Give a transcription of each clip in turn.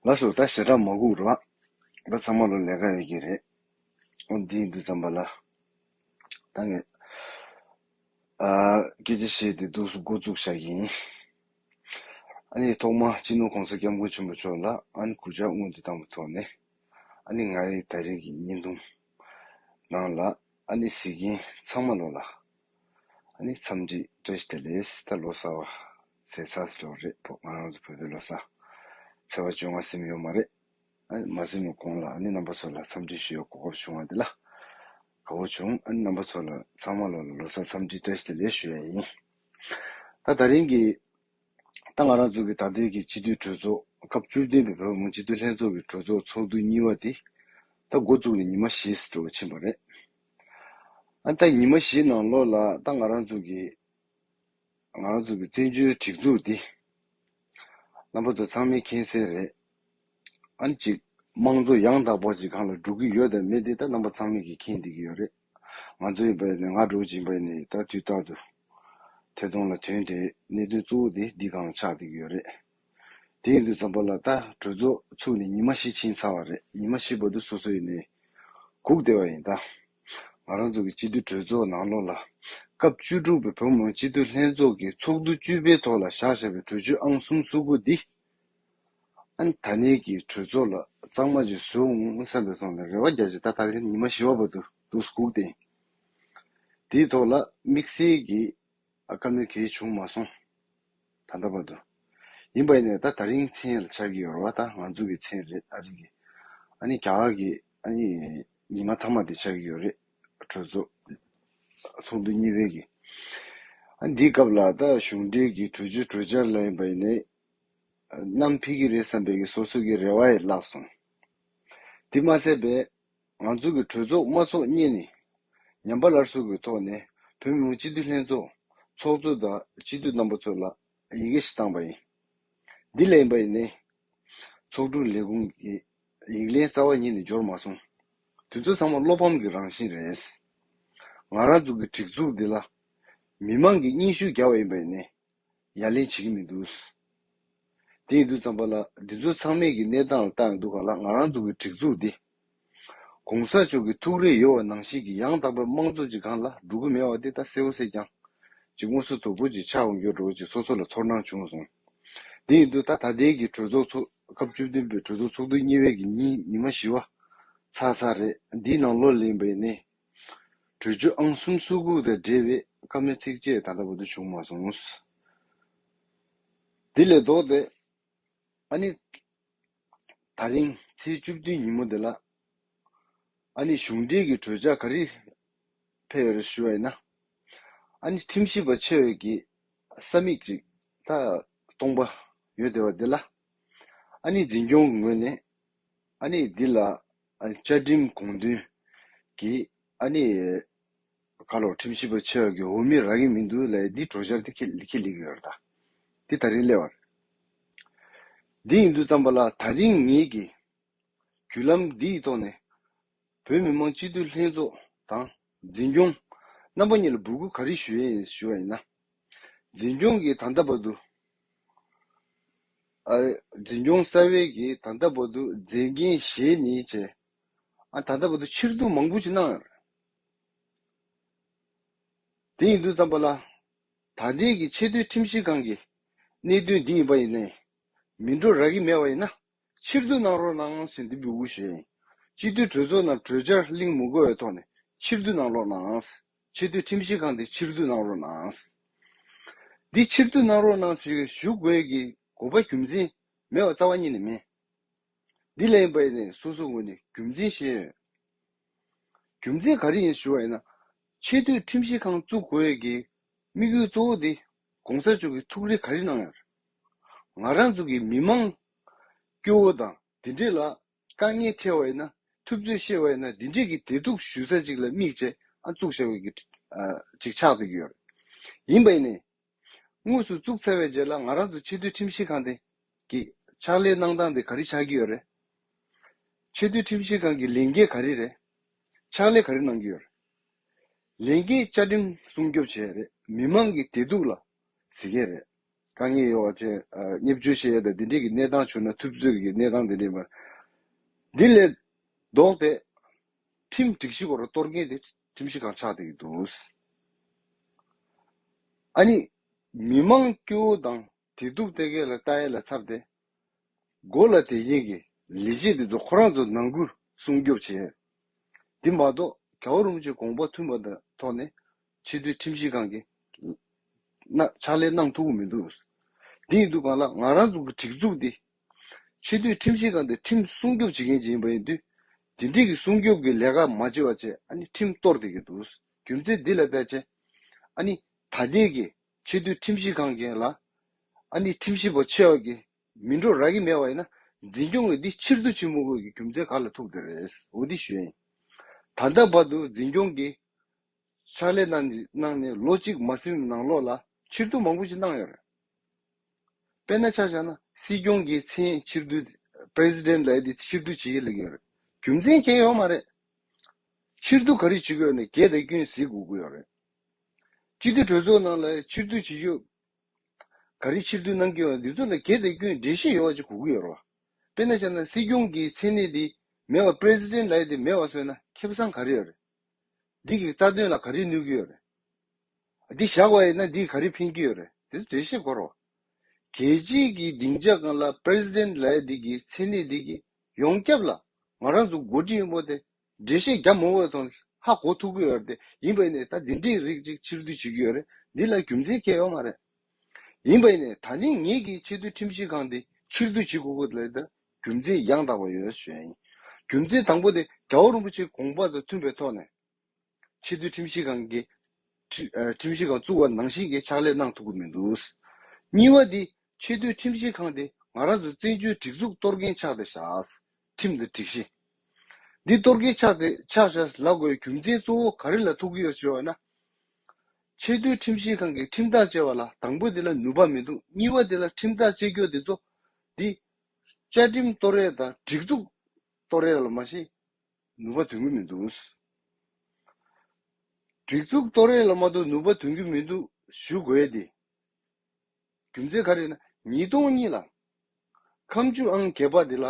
ལགས་སོ་ད་ཞེ་དྲག་མ་སྒུག་རོགས། ལ་ཚང་མ་ལོ་ལས་ཀ་ཡོད་ཀྱི་རེད། འོ་འདི་འདི་ཙམ་པ་ལ། ད་ངས། སྐད་ཆ་བཤད་དེ་འདུག་སུ་འགོ་བཙུགས་བཞག་ཡིན། ཨ་ནི་ཐོག་མ་སྤྱི་ནོར་གོང་ས་སྐྱབས་མགོན་ཆེན་པོ་མཆོག་ལ་ཨན་གུ་ཇག་དངུལ་འདི་བཏང་པ་ཐོག་ནས། ཨ་ནི་ང་རེ་ད་རིང་གི་བརྙན་ཐུང། ནང་ལ་ཨ་ནི་གཟིགས་མཁན་ཚང་མ་ལོ་ལ། ཨ་ནི་འཚམས་འདྲི་བཀྲ་ཤིས་དེ་ལེས་ད་ལོ་གསར་བ། ཚེས་ཚར་སོ་དྲུག་རེད་བོད་ང་རང་ཚོ་བོད་པའི་ལོ་སར་ཚེས་བ་བཅོ་ལྔ་སིམ་ཡོད་མ་རེད། ཨཱ་མ་སིམ་ནོ་གོང་ལ་ཨཱ་ནི་རྣམ་པ་ཚོ་ལ་འཚམས་འདྲི་ཞུ་ཡའི་གོ་སྐབས་བྱུང་བ་འདི་ལ་དགའ་བོ་བྱུང་ཨཱ་ནི་རྣམ་པ་ཚོ་ལ་ཚང་མ་ལོ་ལ་ལོ་སར་འཚམས་འདྲི་བཀྲ་ཤིས་བདེ་ལེགས་ཞུ་ཡ་ཡིན། ད་ད་རིང་གི་ད་ང་རང་ཚོ་གི་ད་ལྟའི་གི་སྤྱི་འཐུས་གྲོས་ཚོགས་སྐབས་བཅུ་བདུན་པའི་བོད་མོང་སྤྱི་འཐུས་ལྷན་ཚོགས་ཀྱི་གྲོས་ཚོགས་ཚོགས་འདུ་གཉིས་བ་དེ་ད་འགོ་བཙུགས་ནས་ཉི་མ་བཞི་འགྲོ་བ་ཕྱིན་པ་རེད། ཨཱ་ནི་ད་ཉི་མ་བཞི་ནང་ལོ་ལ་ད་ང་རང་ཚོ་གི། ང་རང་ཚོ་གི་བཙན་བྱོལ་སྒྲིག་འཛུགས་འདི། རྣམ་པ་ཚོ་ཚང་མའི་མཁྱེན་གསལ་རེད། ཨ་ནི་གཅིག། དམངས་གཙོ་ཡང་དག་པ་ཞིག་གང་ལ་འགྲོ་གི་ཡོད་དམ་མེད་དེ་ད་རྣམ་པ་ཚང་མས་ཀྱི་མཁྱེན་བསྡད་ཀྱི་ཡོད་རེད། ང་ཚོ་ཡིན་པ་ནས་ང་འགྲོ་བཞིན་པ་ཡིན་ནས་ད་དུས་རྟག་ཏུ། ཐད་གཏོང་ལ་དོན་དེ་གནད་དོན་གཙོ་བོ་དེ་འདི་གང་ཆགས་བསྡད་ཀྱི་ཡོད་རེད། དེ་ཡིན་དུས་འཛམ་བུ་ལ་ད་གྲོས་ཚོགས་ཚུགས་ནས་ཉི་མ་བཞི་ཕྱིན་ཚར་བ་རེད་ཉི་མ་བཞི་བར་དུ་སོ་སོ་ཡིན་ནས་སྒུག་བསྡད་པ་ཡིན་ད། ང་རང་ཚོ་གི་སྤྱི་འཐུས་གྲོས་ཚོགས་ནང་ལོ་ལ་སྐབས་བཅུ་དྲུག་པའི་བོད་མང་སྤྱི་འཐུས་ལྷན་ཚོགས་ཀྱི་ཚོགས་འདུ་བཅུ་པའི་ཐོག་ལ་བཞག་བཞག་པའི་གྲོས་ཆོད་ཨང་གསུམ་བསུ་དགོས་འདི་ཨན་ད་ནས་ཀྱི་གྲོས་ཚོགས་ལ་གཙང་མ་གཅིག་བཟོས་འོང་བསམ་པའི་ཐོག་ནས་རེ་བ་རྒྱ་ཆེ་ད་ད་ལན་ཉི་མ་བཞི་བ་བར་དུ་འདུག་སྒུག་སྟེ་དེའི་ཐོག་ལ་དམིགས་བསལ་གྱི་ཨ་དཀར་མོའི་གེགས་བྱུང་མ་སོང། ད་ལྟ་བར་དུ། ཡིན་པ་ཡིན་ནས་ད་ད་རིང་ཚེ་ཡལ་ཆགས་ཀྱི་ཡོད་རེད་བ་ད་ང་ཚོ་གི་ཚེ་རེད་ཨ་རིག་གི། ཨ་ནི་རྒྱ་གར་གི་ཨ་ནི་ཉི་མ་ཐ་མ་དེ་ཆགས་ཀྱི་ཡོད་རེད་གྲོས་ཚོགས་ཚོགས་འདུ་གཉིས་པའི་གི། ཨ་འདིའི་སྐབས་ལ་ད་གཞུང་འབྲེལ་གི་གྲོས་ཆོད་གྲོས་འཆར་ལ་ཡིན་པ་ཡིན་ནས་གནམ་འཕིགས་གི་རེད་བསམ་པའི་གི་སོ་སོ་གི་རེ་བ་ཡི་བརླག་སོང། དེ་མ་ཟད་པའི། ང་ཚོ་གི་གྲོས་ཚོགས་དམར་ཚོགས་གཉིས་ནི་ཉམས་པ་ལར་ཟུག་གི་ཐོག་ནས་བོད་མི་མང་སྤྱི་འཐུས་ལྷན་ཚོགས་ཚོགས་གཙོ་དང་སྤྱི་འཐུས་རྣམ་པ་ཚོ་ལ་ཡི་གེ་ཞིག་བཏང་པ་ཡིན། འདི་ལས་ཡིན་པ་ནི། ཚོགས་དྲུང་ལས་ཁུངས་ཀྱི་ཡིག་ལན་རྩ་བ་ཉིད་ནས་འབྱོར་མ་སོང། དེ་ཚོ་ཚང་མ་བློ་ཕམ་གྱི་རང་བཞིན་རེད། ང་རང་ཚོ་གི་སྒྲིག་འཛུགས་འདི་ལ་མི་མང་གིས་སྙིང་ཤུགས་རྒྱག་པ་ཡིན་པ་ནི། ཡ་ལན་བྱེད་ཀྱི་མི་འདུག། དེ་ཡིན་དུས་ཙམ་པ་ལ་འདི་ཚོ་ཚང་མེད་ཀྱི་གནས་སྟངས་ལ་བལྟ་ཡོང་དུས་ག་ལ་ང་རང་ཚོ་གི་སྒྲིག་འཛུགས་འདི། གོང་ས་མཆོག་གི་ཐུགས་རེ་ཡོད་བ་ནང་བཞིན་གྱི་ཡང་དག་པའི་དམངས་གཙོ་ཅིག་གང་ལ་འགྲོ་གི་མེད་བ་དེ་ད་གསལ་བོ་གསལ་ཀྱང། ཅིག་ངོ་སོ་དོད་པོ་ཅིག་ཆགས་འོང་གྱུར་འགྲོ་བ་ཅིག་སོ་སོ་ལ་ཚོར་སྣང་བྱུང་སོང། དེ་ཡིན་དུས་ད་ད་ལྟའི་གི་གྲོས་ཚོགས་ཚོགས་སྐབས་བཅུ་བདུན་པའི་གྲོས་ཚོགས་ཚོགས་དུས་གཉིས་བའི་གི་ཉིན་ཉི་མ་བཞི་བ། ཚ་ཚ་རེད་འདིའི་ནང་ལོ་ལེགས་འབའ་ནས་གྲོས་ཆོད་ཨང་གསུམ་གསོལ་བསྐུར་དང་འབྲེལ་བའི་བཀའ་མོལ་ཚིགས་བཅད་ད་ལྟ་བར་དུ་བྱུང་མ་སོང། དེ་ལས་ལྡོག་སྟེ། ཨ་ནི། ད་རིང་ཚེས་བཅུ་བདུན་ཉིན་མོ་འདི་ལ། ཨ་ནི་གཞུང་འབྲེལ་གྱི་གྲོས་འཆར་ག་རེ་ཕེབས་ཡོད་རེད་ཞུ་བ་ཡིན་ན། ཨ་ནི་ཁྲིམས་ཞིབ་པ་ཆེ་བས་ཀྱིས་ས་མིག་ཅིག་ད་གཏོང་པ་ཡོད་དེ་བ་འདི་ལ། ཨ་ནི་འཛིན་སྐྱོང་གི་ངོས་ནས། ཨ་ནེ་འདི་ལ་བཅའ་ཁྲིམས་དགོངས་དོན་གྱི་ཨ་ནེ་ཁ་ལོ་ཁྲིམས་ཞིབ་པ་ཆེ་བ་གི་འོ་མི་རག་གི་མི་འདུག་ལས་འདི་གྲོ་ཆར་དེ་ཁེ་ལེགས་ཡོད་རེད་ད། འདི་ད་རིང་གླེ་བ་རེད། འདི་ཡིན་དུས་བརྩམས་པ་ལ་ད་རིང་ངེད་ཀྱིས་བརྒྱུད་ལམ་འདི་ཡི་ཐོག་ནས་བོད་མི་མང་སྤྱི་འཐུས་ལྷན་ཚོགས་དང་འཛིན་སྐྱོང། རྣམ་པ་གཉིས་ལ་འབོད་སྐུལ་ག་རེ་ཞུ་ཡས་ཞུ་བ་ཡིན་ན། འཛིན་སྐྱོང་གིས་ད་ལྟ་བར་དུ། འཛིན་སྐྱོང་གསར་བའི་གིས་ད་ལྟ་བར་དུ་མཛད་འགན་བཞེས་ནི་བྱས། ཨ་ད་ལྟ་བར་དུ་ཕྱིར་བསྡུ་མང་པོ་ཅིག་གནང། དེ་ཡིན་དུས་ཙམ་པ་ལ། ད་ལྟའི་གི་ཆེས་མཐོའི་ཁྲིམས་ཞིབ་ཁང་གི་གནད་དོན་འདི་ཡིན་པ་ཡིན་ནས་མི་འགྲོ་རག་གི་མེད་བ་ཡིན་ན། ཕྱིར་བསྡུ་གནང་རོགས་གནང་ཟིན་འདི་འབུལ་ཞེས། སྤྱི་འཐུས་གྲོས་ཚོགས་རྣམས་གྲོས་འཆར་གླིང་མུ་གོའི་ཐོག་ནས་ཕྱིར་བསྡུ་གནང་རོགས་གནང། ཆེས་མཐོའི་ཁྲིམས་ཞིབ་ཁང་འདི་ཕྱིར་བསྡུ་གནང་རོགས་གནང། འདི་ཕྱིར་བསྡུ་གནང་རོགས་གནང་ཞེས་ཞུ་དགོས་ཀྱི་དགོས་པ་རྒྱུ་མཚན་མེད་པ་རྩ་བ་ཉིད་ནས་མིན། འདི་ལས་པའི་ནས་སོ་སོའི་ངོས་ནས་རྒྱུ་མཚན་བཤད་ཡོད། རྒྱུ་མཚན་ག་རེ་ཡིན་ཞུ་བ་ཡིན་ན། ཆེས་མཐོའི་ཁྲིམས་ཞིབ་ཁང་བཙུགས་དགོས་ཀྱི་དམིགས་ཡུལ་གཙོ་བོ་འདི་གོང་ས་མཆོག་གིས་ཐུགས་རེ་ག་རེ་གནང་ཡང། ང་རང་ཚོ་གི་མི་མང། སྐྱོ་བོ་དང་འདི་འདྲས་ལ། དཀའ་ངལ་འཕྲད་བ་ཡིན་ན། ཐུབ་ཚོད་བཤད་བ་ཡིན་ན་འདི་འདྲས་ཀྱི་དེ་སྡུག་ཞུ་ས་ཅིག་ལ་དམིགས་བྱས་ཨ་བཙུགས་བཞག་ཡོད་གི། ཅིག་ཆགས་འདུག་ཡོད་རེད། ཡིན་པ་ཡིན་ནའི། དངོས་སུ་བཙུགས་ཚར་བའི་རྗེས་ལ་ང་རང་ཚོ་ཆེས་མཐོའི་ཁྲིམས་ཞིབ་ཁང་དེ། གི། ཕྱག་ལས་གནང་སྟངས་དེ་ག་རེ་ཆགས་ཀྱི་ཡོད་རེད། ཆེས་མཐོའི་ཁྲིམས་ཞིབ་ཁང་གི་ལས་འགན་ག་རེ་རེད། ཕྱག་ལས་ག་རེ་གནང་གི་ཡོད་རེད། ལས་ཀའི་བཅའ་ཁྲིམས་སྲུང་སྐྱོབ་བྱས་ཡས་རེད་མི་དམངས་ཀྱི་བདེ་སྡུག་ལ་གཟིགས་ཡས་རེད། དཀའ་ངལ་ཡོད་བ་ཅན་སྙེབས་བཅོལ་བྱས་ཡས་དང་འདི་འདྲས་ཀྱི་གནས་སྟངས་བྱུང་ན་ཐུབ་ཚོད་ཀྱི་གནས་སྟངས་འདི་འདྲས་མེད། འདི་ལས་ལྡོག་སྟེ། ཁྲིམས་སྒྲིག་གཞི་སྐོར་གཏོར་མཁན་དེ་ཁྲིམས་གཞི་གང་ཆགས་དེ་ཡིན་འདུག། ཨ་ནི། མི་དམངས་སྐྱོ་བོ་དང་དེ་སྡུག་སྟེ་གེ་ལ་རྟ་ཨེ་ལ་འཚབ་སྟེ། མགོ་ལ་དེ་བཞིན་གྱི་ལས་བྱེད་འདི་ཚོ་ཁོ་རང་ཚོ་ནང་ཁུལ་སྲུང་སྐྱོབ་བྱས། དེ་མ་གཏོགས་གའུ་རུང་ཆེ་དགོངས་པ་མཐུན་པ་དང་ཐོག་ནས་ཆེ་མཐོའི་ཁྲིམས་ཞིབ་ཁང་གིས་ཕྱག་ལས་གནང་ཐུབ་མི་འདུག་དེ་ཡིན་དུས་གང་ལགས་ང་རང་ཚོ་གི་སྒྲིག་འཛུགས་འདི་ཆེ་མཐོའི་ཁྲིམས་ཞིབ་ཁང་འདི་ཁྲིམས་སྲུང་སྐྱོབ་བྱེད་མཁན་ཞིག་ཡིན་པ་ཡིན་དུས་དེ་འདྲིས་ཀྱི་སྲུང་སྐྱོབ་ཀྱི་ལས་ཀ་མ་བྱེད་བ་བྱས་ཨ་ནི་ཁྲིམས་གཏོར་དེ་གི་འདུག་རྒྱུ་མཚན་འདི་ལ་བལྟས་ཚེ་ཨ་ནི་ད་ལྟའི་གི་ཆེས་མཐོའི་ཁྲིམས་ཞིབ་ཁང་གིས་ལ་ཨ་ནི་ཁྲིམས་ཞིབ་པ་ཆེ་བ་གིས་མི་འགྲོ་རག་གི་མེད་པ་ཡིན་ན་འཛིན་སྐྱོང་གིས་འདི་ཕྱིར་བསྡུ་བྱེད་མི་དགོས་ཀྱི་རྒྱུ་མཚན་ག་ལ་ཐུག་དེ་རེད་འོ་འདི་ཞུ་ཡིན་ད་ལྟ་བར་དུ་འཛིན་སྐྱོང་གིས་ཕྱག་ལས་གནང་ནས་ལོ་གཅིག་མ་ཟིན་ནང་ལོགས་ལ་ཕྱིར་བསྡུ་མང་པོ་ཞིག་གནང་ཡོད་རེད་དཔེར་ན་ཆ་བཞག་ན་སྲིད་སྐྱོང་གི་མཚན་ཕྱིར་བསྡུ president ལ་ཨེ་ཕྱིར་བསྡུ་བྱེད་ཡི་ལེ་གི་ཡོད་རེད་རྒྱུ་མཚན་གྱེས་ཡོད་མ་རེད་ཕྱིར་བསྡུ་ག་རེ་བྱེད་དགོས་ནས་གྱེས་དེ་སྐྱོན་གཟིགས་དགོས་ཀྱི་ཡོད་རེད། སྤྱི་འཐུས་གྲོས་ཚོགས་ནང་ལ་ཕྱིར་བསྡུ་བྱེད་རྒྱུ། ག་རེ་ཕྱིར་བསྡུ་གནང་གི་ཡོད་འདི་ཚོ་ལ་གལ་ཏེ་སྐྱོན་འགྲེལ་བཤད་ཡོད་ཅིག་གོ་གི་ཡོད་རེད། དཔེར་ན་ཆ་ན་སྲིད་སྐྱོང་གི་མཚན་གནས་དེ་མེད་པར president ལའེ་དེ་མེད་པར་བཟོས་ན་ཁེ་བཟང་ག་རེ་ཡོད་རེད། འདི་གི་རྩ་དོན་ལ་ག་རེ་གནོད་གི་ཡོད་རེད། འདི་བཞག་པ་ཡིན་ན་འདིས་ག་རེ་ཕན་གྱི་ཡོད་རེད་དེ་ཚོ་འགྲེལ་བཤད་གོ་རོགས། གལ་ཆེན་གི་སྡིངས་ཆ་གང་ལ president ལའེ་དེ་གི་མཚན་གནས་དེ་གི་ཡོངས་ཁྱབ་ལ་ང་རང་ཚོ་མགོ་འཁྲིད་ཡིན་པོ་དེ་འགྲེལ་བཤད་རྒྱ་མོ་འོད་དང་ཧ་གོ་ཐུག་གི་ཡོད་རེད་ཡིན་པས་ནས་ད་འདི་འདྲིའི་རིགས་ཅིག་ཕྱིར་བསྡུ་བྱེད་ཀྱི་ཡོད་རེད་འདི་ལ་རྒྱུ་མཚན་ཁྱད་ཡོད་མ་རེད་ཡིན་པས་ནས་ད་ནི་ངེད་ཀྱིས་ཆེས་མཐོའི་ཁྲིམས་ཞིབ་ཁང་འདི་ཕྱིར་བསྡུ་བྱེད་དགོས་གི་རེད་ད་རྒྱུ་མཚན་ཡང་དག་པ་ཡོད་ཞེས་ཡིན་རྒྱུ་མཚན་དང་པོ་དེ་དགྲ་བོ་རིན་པོ་ཆེའི་དགོངས་པ་དང་མཐུན་པའི་ཐོག་ནས་ཆེས་མཐོའི་ཁྲིམས་ཞིབ་ཁང་གི་ཁྲིམས་ཞིབ་ཁང་བཙུགས་པ་ནང་བཞིན་གྱི་ཕྱག་ལས་གནང་ཐུབ་ཀྱི་མི་འདུག་གཉིས་པ་དེ་ཆེས་མཐོའི་ཁྲིམས་ཞིབ་ཁང་དེ་ང་རང་ཚོའི་བཙན་བྱོལ་སྒྲིག་འཛུགས་གཏོར་མཁན་ཆགས་ཏེ་བཞག་ཁྲིམས་དང་སྒྲིག་གཞི། འདི་གཏོར་གྱིས་ཕྱག་སྟེ་ཕྱག་བྱ་ལ་དགོས་རྒྱུ་མཚན་གཙོ་བོ་ག་རེ་ལ་ཐུག་གི་ཡོད་ཞེས་བ་ན། ཆེས་མཐོའི་ཁྲིམས་ཞིབ་ཁང་གིས་ཁྲིམས་ཐག་བཅད་བ་ལ་དང་པོ་དེ་ལ་ནུས་པ་མི་འདུག་གཉིས་བ་དེ་ལ་ཁྲིམས་ཐག་བཅད་རྒྱུ་དེ་ཚོ་འདི། བཅའ་ཁྲིམས་གཏོར་རེས་དང་སྒྲིག་འཛུགས་གཏོར་རེས་ལ་མ་གཞི་ནུས་པ་འདོན་གྱི་མི་འདུག། སྒྲིག་འཛུགས་གཏོར་རེས་ལ་མ་གཏོགས་ནུས་པ་འདོན་གྱི་མི་འདུག་ཞུ་དགོས་ཏེ། རྒྱུ་མཚན་ག་རེ་ན་ཉིས་སྟོང་གཉིས་ལ་ཁམས་ཆུ་ཨང་བརྒྱད་པ་དེ་ལ་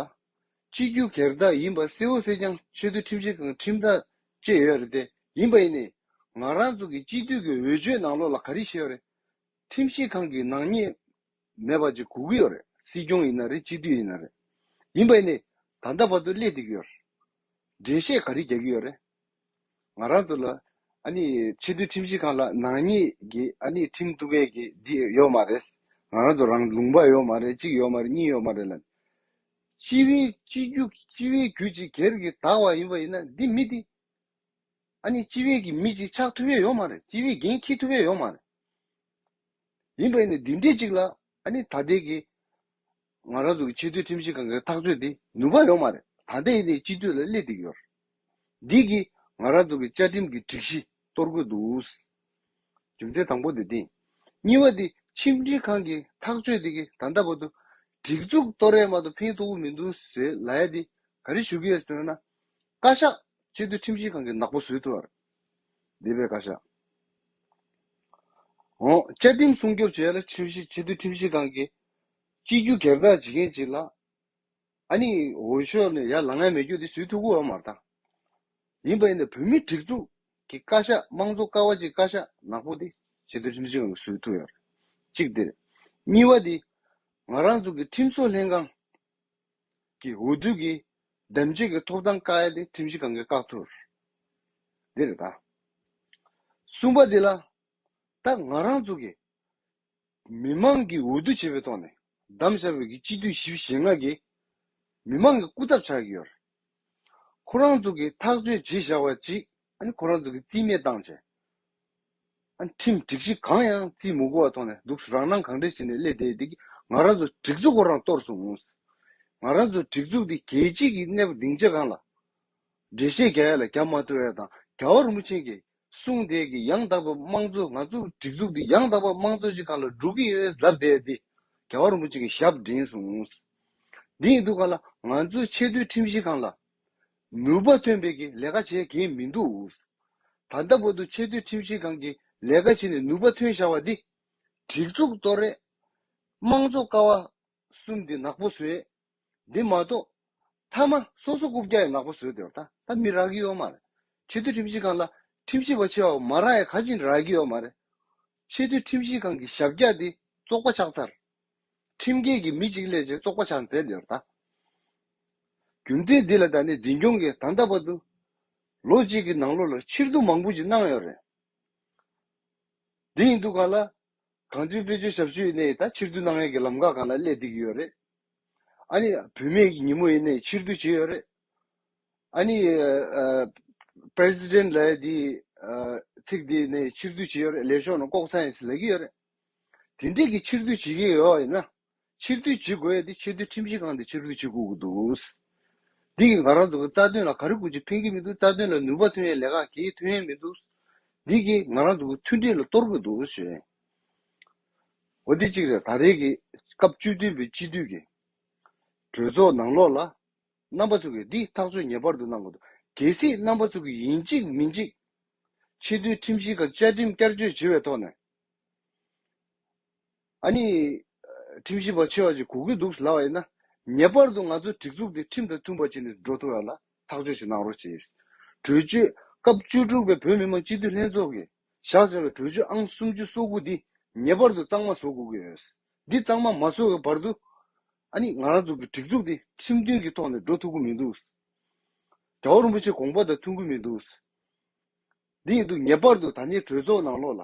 སྤྱི་རྒྱུ་གེར་བདག་ཡིན་པ་གསལ་བོ་གསལ་རྐྱང་ཆེ་བསྟོད་ཁྲིམས་བྱེད་ཁང་ཁྲིམས་ཐག་བཅད་ཡོད་རེད་དེ་ཡིན་པ་ཡིན་ནས་ང་རང་ཚོ་གི་སྤྱི་འཐུས་ཀྱི་འོས་ཆོས་ནང་ལོགས་ལ་ག་རེ་བཤད་ཡོད་རེད་ཁྲིམས་བྱེད་ཁང་གི་ནང་ཉེས་མེད་པ་ཅིག་གོ་གི་ཡོད་རེད་སྲིད་སྐྱོང་ཡིན་ན་རེད་སྤྱི་འཐུས་ཡིན་ན་རེད་ཡིན་པ་ཡིན་ནས་ད་ལྟ་བར་དུ་སླེ་འདི་གི་ཡོད་རེད་འགྲེལ་བཤད་ག་རེ་རྒྱག་གི་ཡོད་རེད་ང་རང་དུ་ལ། ཨ་ནི། ཕྱི་སྡོད་ཁྲིམས་སྤྱི་ཁང་ལ་ནག་ཉེས་ཀྱི་ཨ་ནི་ཁྲིམས་གཏུག་མཁན་གྱི་འདི་ཡོག་མ་རེད། ང་རང་དུ་རང་ལུང་པ་ཡོག་མ་རེད་གཅིག་ཡོག་མ་རེད་གཉིས་ཡོག་མ་རེད་ལ། སྤྱི་བའི་སྤྱི་རྒྱུ་སྤྱི་བའི་རྒྱུ་གཅིག་གེར་གི་དག་བ་ཡིན་པ་ཡིན་ན་འདི་མི་འདི། ཨ་ནི་སྤྱི་བའི་གི་མི་གཅིག་ཆགས་ཐུབ་ཡོད་ཡོག་མ་རེད་སྤྱི་བའི་འགན་འཁྱི་ཐུབ་ཡོད་ཡོག་མ་རེད། ཡིན་པ་ཡིན་ན་འདི་འདྲས་གཅིག་ལ་ཨ་ནི་ད་ལྟའི་གི། ང་རང་ཚོ་གི་ཆེས་མཐོའི་ཁྲིམས་ཞིབ་ཁང་གི་ཐག་གཅོད་དེ་ནུས་པ་ཡོང་མ་རེད་ད་ལྟ་ཡིན་ནའི་སྤྱི་འཐུས་ལ་སླེབས་ཏེ་ཡོད། འདི་གིས་ང་རང་ཚོ་གི་བཅའ་ཁྲིམས་ཀྱི་སྒྲིག་གཞི་གཏོར་དགོས་འདུག་རྒྱུ་མཚན་དང་པོ་དེ་དེ། གཉིས་པ་དེ་ཁྲིམས་སྒྲིག་ཁང་གི་ཐག་གཅོད་དེ་གི་ད་ལྟ་བར་དུ་སྒྲིག་འཛུགས་གཏོར་ཡས་མ་ཏོག་ཕན་ཐོག་པོ་མི་འདུག་ཟེར་ལ་ཡ་དེ་ག་རེ་ཞུ་གི་ཡོད་ཟེར་ན། བཀའ་ཤག་ཆེས་མཐོའི་ཁྲིམས་ཞིབ་ཁང་གི་ནག་པོ་བཟོས་ཐུབ་པ་རེད། འདས་པའི་བཀའ་ཤག་ཨོ་བཅའ་ཁྲིམས་སྲུང་སྐྱོབ་བྱེད་ཡས་ལ་ཁྲིམས་ཞིབ་ཆེས་མཐོའི་ཁྲིམས་ཞིབ་ཁང་གི་སྤྱི་རྒྱུ་སྒེར་བདག་བྱེད་མཁན་ཅིག་ལ། ཨ་ནི་འོས་ཤོག་ནི་ཡར་ལང་ངའི་མེད་རྒྱུ་དེ་ཟུས་ཐུག་གུ་བ་མ་རྟ། ཡིན་པ་ཡིན་ན་བོད་མི་སྒྲིག་འཛུགས་ཀྱི་བཀའ་ཤག་དམངས་གཙོ་ཀ་བ་གཅིག་བཀའ་ཤག་ནག་པོ་དེ་ཆེད་དུ་ཁྲིམས་ཞིབ་ཁང་གི་ཟུས་ཐུག་ཡོད་གཅིག་དེ་རེད། གཉིས་བ་དེ་ང་རང་ཚོ་གི་ཁྲིམས་བཟོ་ལྷན་ཁང་གི་འོས་བསྡུ་གི་གདམ་བྱེད་ཀྱི་ཐོབ་ཐང་བཀག་ཡ་དེ་ཁྲིམས་ཞིབ་ཁང་གི་བཀག་ཐུག་དེ་རེད་ད། གསུམ་པ་དེ་ལ་ད་ང་རང་ཚོ་གི་མི་དམངས་ཀྱིས་འོས་བསྡུ་བྱེད་པའི་ཐོག་ནས་གདམ་བྱ་བའི་གྱི་སྤྱི་འཐུས་ཞི་བ་ཞེ་ལྔ་གིས་མི་དམངས་ཀྱི་སྐུ་ཚབ་ཆགས་ཀྱི་ཡོད། ཁོ་རང་ཚོ་གིས་ཐག་གཅོད་བྱེད་བཞག་པ་ཅིག་ཁོ་རང་ཚོ་གིས་རྩིས་མེད་བཏང་བྱས། ཁྲིམས་སྒྲིག་གཞི་གང་ཡང་རྩིས་མི་དགོས་བ་ཐོག་ནས་འདུག་རང་སྣང་གང་དྲན་བྱས་ནས་སླེ་བསྡད་དེ་ང་རང་ཚོ་སྒྲིག་འཛུགས་ཁོ་རང་གཏོར་སོང་ངོ། ང་རང་ཚོ་སྒྲིག་འཛུགས་དེ་རྒྱལ་སྤྱི་གྱི་གནས་བབ་སྡིངས་ཆ་གང་ལ་འགྲེལ་བཤད་རྒྱ་ཡག་ལ་རྒྱ་མ་ཐོས་བ་དང་རྒྱ་བར་མུ་ཆེན་གྱི་གསུངས་དེས་ཀྱི་ཡང་དག་པའི་དམངས་གཙོ་ང་ཚོ་སྒྲིག་འཛུགས་འདི་ཡང་དག་པའི་དམངས་གཙོ་ཞིག་ག་ལ་སྒྲུབ་ཀྱི་ཡོད་གཟབ་བསྡད་དེ་རྒྱལ་བ་རིན་པོ་ཆེ་གི་ཞབས་འདྲེན་སོང། འདི་ཡིན་དུས་ག་ལ་ང་ཚོའི་ཆེས་མཐོའི་ཁྲིམས་གཞི་གང་ལ་ནུས་པ་ཐོན་པའི་གི་ལས་ཀ་བྱེད་གི་མི་འདུག་ད་ལྟ་བར་དུ་ཆེས་མཐོའི་ཁྲིམས་གཞི་གང་གི་ལས་ཀ་བྱེད་ནས་ནུས་པ་ཐོན་ཤར་བ་འདི་སྒྲིག་འཛུགས་གཏོར་རེས་དམངས་གཙོ་ཀ་བ་གསུམ་འདི་ནག་པོ་བཟོས། འདི་མ་གཏོགས། མཐའ་མ་སོ་སོ་རྐུབ་བཀྱག་ཡི་ནག་པོ་བཟོས་དེ་བ་ད་ད་མི་རག་གི་ཡོད་མ་རེད། ཆེས་མཐོའི་ཁྲིམས་ཞིབ་ཁང་ལ་ཁྲིམས་ཞིབ་པ་ཆེ་བ་མ་རག་ཡ་ག་ཅིག་རག་གི་ཡོད་མ་རེད། ཆེས་མཐོའི་ཁྲིམས་ཞིབ་ཁང་གི་ཞབས་བཀྱག་འདི་བཙོག་པ་ཆགས་ཚར། ཁྲིམས་འགལ་གྱི་མི་གཅིག་ལས་ཆེ་བཙོག་པ་ཆགས་མཛད་དེ་བ་ད། རྒྱུ་མཚན་འདི་ལ་ད་ནི་འཛིན་སྐྱོང་གིས་ད་ལྟ་བར་དུ། ལོ་གཅིག་གི་ནང་ལོ་ལ་ཕྱིར་བསྡུ་མང་པོ་ཅིག་གནང་ཡོད་རེད། འདི་ཡིན་འདུག་ག་ལ། གངས་ཅན་བོད་ཆོས་ཞབས་ཞུ་ཡེ་ནས་ད་ཕྱིར་བསྡུ་གནང་མཁན་གྱི་ལམ་ཁ་གང་ལ་སླེབས་བསྡད་ཀྱི་ཡོད་རེད། ཨཱ་ནི། བུད་མེད་ཀྱི་ཉིན་མོ་ཡེ་ནས་ཕྱིར་བསྡུ་བྱས་ཡོད་རེད། ཨཱ་ནི། President ལའི་དེ། ཚིག་དེ་ནས་ཕྱིར་བསྡུ་བྱས་ཡོད་རེད་ལས་ཤོག་ནང་ལྐོག་ཚན་ཡོད་ཚུལ་ལབ་ཀྱི་ཡོད་རེད། དེ་འདྲས་ཀྱི་ཕྱིར་བསྡུ་བྱེད་ཀྱི་ཡོད་ཡིན་ན། ཕྱིར་བསྡུ་བྱེད་དགོས་ཏེ་ཆེས་མཐོའི་ཁྲིམས་ཞིབ་ཁང་དེ་ཕྱིར་བསྡུ་བྱེད་དགོས་ཀྱི་འདུག་འདི་གིས་ང་རང་ཚོ་གི་རྩ་དོན་ལ་ག་རེ་དགོས་ཀྱི་ཕན་གྱི་མི་འདུག་རྩ་དོན་ལ་ནུས་པ་ཐོན་ཡས་ལས་ཀ་གྱིས་ཐོན་ཡས་མི་འདུག་འདི་གིས་ང་རང་ཚོ་གི་མཐུན་སྒྲིལ་ལ་གཏོར་གྱི་འདུག་ཞེས་འོ་དེ་གཅིག་རེད་ད་རེས་ཀྱི་སྐབས་བཅུ་བདུན་པའི་སྤྱི་འཐུས་ཀྱི་གྲོས་ཚོགས་ནང་ལོགས་ལ་རྣམ་པ་ཚོ་གིས་འདི་ཐག་གཅོད་ངེས་པར་དུ་གནང་དགོས་འདུག་གལ་སྲིད་རྣམ་པ་ཚོ་གིས་ཡིན་གཅིག་མིན་གཅིག་ཆེས་མཐོའི་ཁྲིམས་ཞིབ་ཁང་བཅའ་ཁྲིམས་བསྐྱར་བཅོས་བྱེད་པའི་ཐོག་ནས། ཨ་ནི། ཁྲིམས་ཞིབ་པ་ཆེ་བ་ཞིག་གོ་གི་འདུག་ལབ་པ་ཡིན་ན། ངེས་པར་དུ་ང་ཚོའི་སྒྲིག་འཛུགས་དེ་ཁྲིམས་དང་མཐུན་པ་བྱས་ནས་འགྲོ་ཐུབ་ཡོང་ལ་ཐག་གཅོད་ཞིག་གནང་རོགས་བྱས། གྲོས་ཆོད། སྐབས་བཅུ་དྲུག་པའི་བོད་མི་མང་སྤྱི་འཐུས་ལྷན་ཚོགས་ཀྱིས་བཞག་ཟེར་བའི་གྲོས་ཆོད་ཨང་སུམ་ཅུ་སོ་དགུ་འདི་ངེས་པར་དུ་གཙང་མ་བཟོ་དགོས་ཀྱི་ཡོད། འདི་གཙང་མ་མ་བཟོ་བའི་བར་དུ། ཨ་ནི་ང་རང་ཚོ་གི་སྒྲིག་འཛུགས་དེ་ཁྲིམས་མཐུན་གྱི་ཐོག་ནས་འགྲོ་ཐུབ་ཀྱི་མི་འདུག། རྒྱ་བོ་རིན་པོ་ཆེ་དགོངས་པ་དང་མཐུན་གྱི་མི་འདུག། འདི་ཡིན་དུས་ངེས་པར་དུ་ད་ནི་གྲོས་ཚོགས་ནང་ལོགས་ལ།